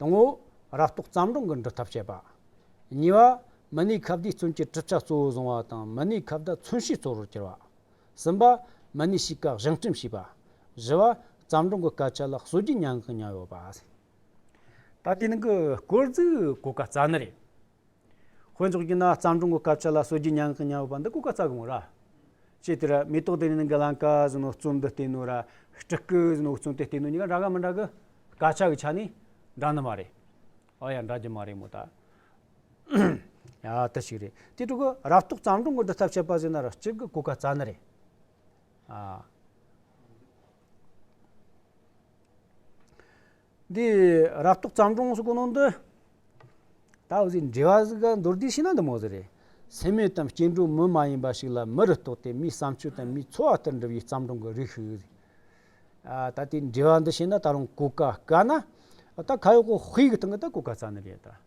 དང་པོ། ར་རྟོག་བརྩམས་སྒྲུང་གི་འབྲི་ཐབས་བཤད་པ། གཉིས་པ། མི་སྣའི་ཁ་བརྡའི་བརྩོན་གྱི་གྲུབ་ཆ་གཙོ་བོ་བཟུང་བ་དང་མི་སྣའི་ཁ་བརྡ་མཚོན་བྱེད་གཙོ་བོར་གྱུར་པ། གསུམ་པ། མི་སྣའི་གཤིས་ཀ་བཞེངས་བསྐྲུན་བྱས་པ། བཞི་བ། བརྩམས་སྒྲུང་གི་སྐད་ཆ་ལ་སྲོལ་རྒྱུན་མྱ་ངན་གང་མྱངས་ཡོད་པ། ད་ལྟའི་ནང་གི་སྐོར་རྫུས་གོ་སྐབས་རྩ་ནི་རེད། དཔེ་རྫོགས་ཀྱི་ན་རྩམ་དྲུང་གི་སྐབས་ཆད་ལ་སོ་སྒྱི་ཉང་གི་ཉང་བུ་བ་འདི་ཀུ་ཀ་རྩ་གི་མོ་ར། ཅེས་དེ་ར་མེ་ཏོག་དེ་ནི་ནི་གི་ལང་ཀ་ཟི་ནོ་བཙུན་འདི་སྟེ་ནོ་ར་སྤྲི་སྐུ་ཟི་ནོ་བཙུན་དེ་སྟེ་ནོ་གཉིས་ཀ་འདྲ་ག་མི་འདྲ་གི། ཀ་ཆ་གི་ཆ་ནི་འདྲ་ནི་མ་རེད། ཨོ་ཡ་འདྲ་རྒྱུ་མ་རེད་མོ་ད། ཡ་དེ་ཞིག་རེད་དེ་དྲུག་གི་རབ་རྟོག་རྩམ་དྲུང་གི་འདི་ཐབས་ཆད་པ་ཟི་ན་ར་གཅིག་གི་ཀུ་ཀ་རྩ་ནི་རེད། འདི་རག་ཏུ་བརྩམས་སྒྲུང་སུ་གོ་ནོ་འདི། ད་འོ་ཟིག་འདྲེ་བ་ཟིག་ག་མདོར་བསྡུས་ཤེ་ན་འདི་མོ་ཟིག་རེད། སེམས་མེད་དམ་སྐྱེ་འགྲོའི་མི་མ་ཡིན་པ་ཞིག་ལ་མི་རུ་རྟོགས་ཏེ་མིའི་བསམ་སྤྱོད་དང་མིའི་འཚོ་བ་ལྟར་འགྲུབ་ཡི་བརྩམས་སྒྲུང་གི་རིགས་ཤིག་རེད། ད་དེའི་འདྲེ་བ་འདི་ཤེ་ན་ད་རུང་གོ་ག་དཀའ་ན། ད་ཁ་ཡོག་གི་དཔེ་གི་སྟེང་གི་ད་གོ་ག་རྩ་ནི་རེད་ད།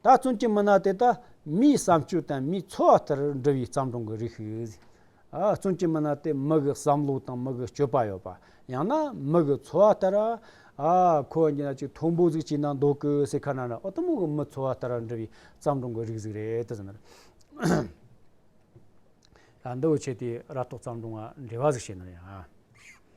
ད་བཙོན་གྱི་མི་སྣ་དེ་དག་མིའི་བསམ་སྤྱོད་དང་མིའི་འཚོ་བ་ལྟར་འབྲི་བའི་བརྩམས་སྒྲུང་གི་རིགས་ཤིག་རེད། བཙོན་གྱི་མི་སྣ་དེ་མི་གི་བསམ་བློ་དང་མི་གི་སྤྱོད་པ་ཡོད་པ། ཡང་ན་མི་གི་འཚོ་བ་ལྟར། ཁོ་ཉིད་ལ་ཅིག་མཐོན་པོ་ཟིག་བྱས་ན་འདོད་གི་ཟེར་ཁ་ན་ན་ཨོ་ཏི་མོ་གི་མི་འཚོ་བ་ལྟར་འབྲི་བའི་བརྩམས་སྒྲུང་གི་རིགས་ཟིག་རེད། འདི་འོས་ཆེ་དེ་ར་ཏོག་བརྩམས་སྒྲུང་འགའ་འབྲི་བ་ཟིག་བྱས་ན་ཡང།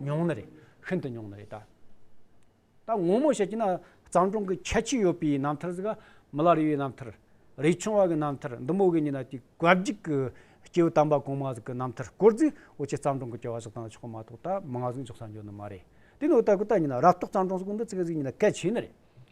ཉུང་ནི་རེད། ཤིན་ཏུ་ཉུང་ནི་རེད། ད་ངོ་མོ་བཤད་ཀྱི་ན་གཙང་གྲོང་གི་ཁྱད་ཆོས་ཡོད་པའི་རྣམ་ཐར་ཟིག་མི་ལ་རི་བའི་རྣམ་ཐར། རི་ཆུང་བ་གི་རྣམ་ཐར་འདི་མོ་གི་ཉིན་ན་དེ་གོ་བརྒྱུད་གི་སྐྱེ་བོ་དམ་པ་གོང་མ་ཟིག་གི་རྣམ་ཐར་སྐོར་ཟིག་འོ་ཆེ་གཙང་གྲོང་གི་སྐྱེ་བ་ཟིག་དང་ཆོག་གི་མ་གཏོགས་ད་མང་ཟིག་འཇོག་ས་འཇོག་ནི་མ་རེད། དེ་ནི་འོ་ད་གོ་ད་ཉིན་ན་རབ་རྟོག་གཙང་གྲོང་ཟིག་གི་འདི་ཚིག་ཟིག་ཉིན་ན་གལ་ཆེ་ནི་རེད།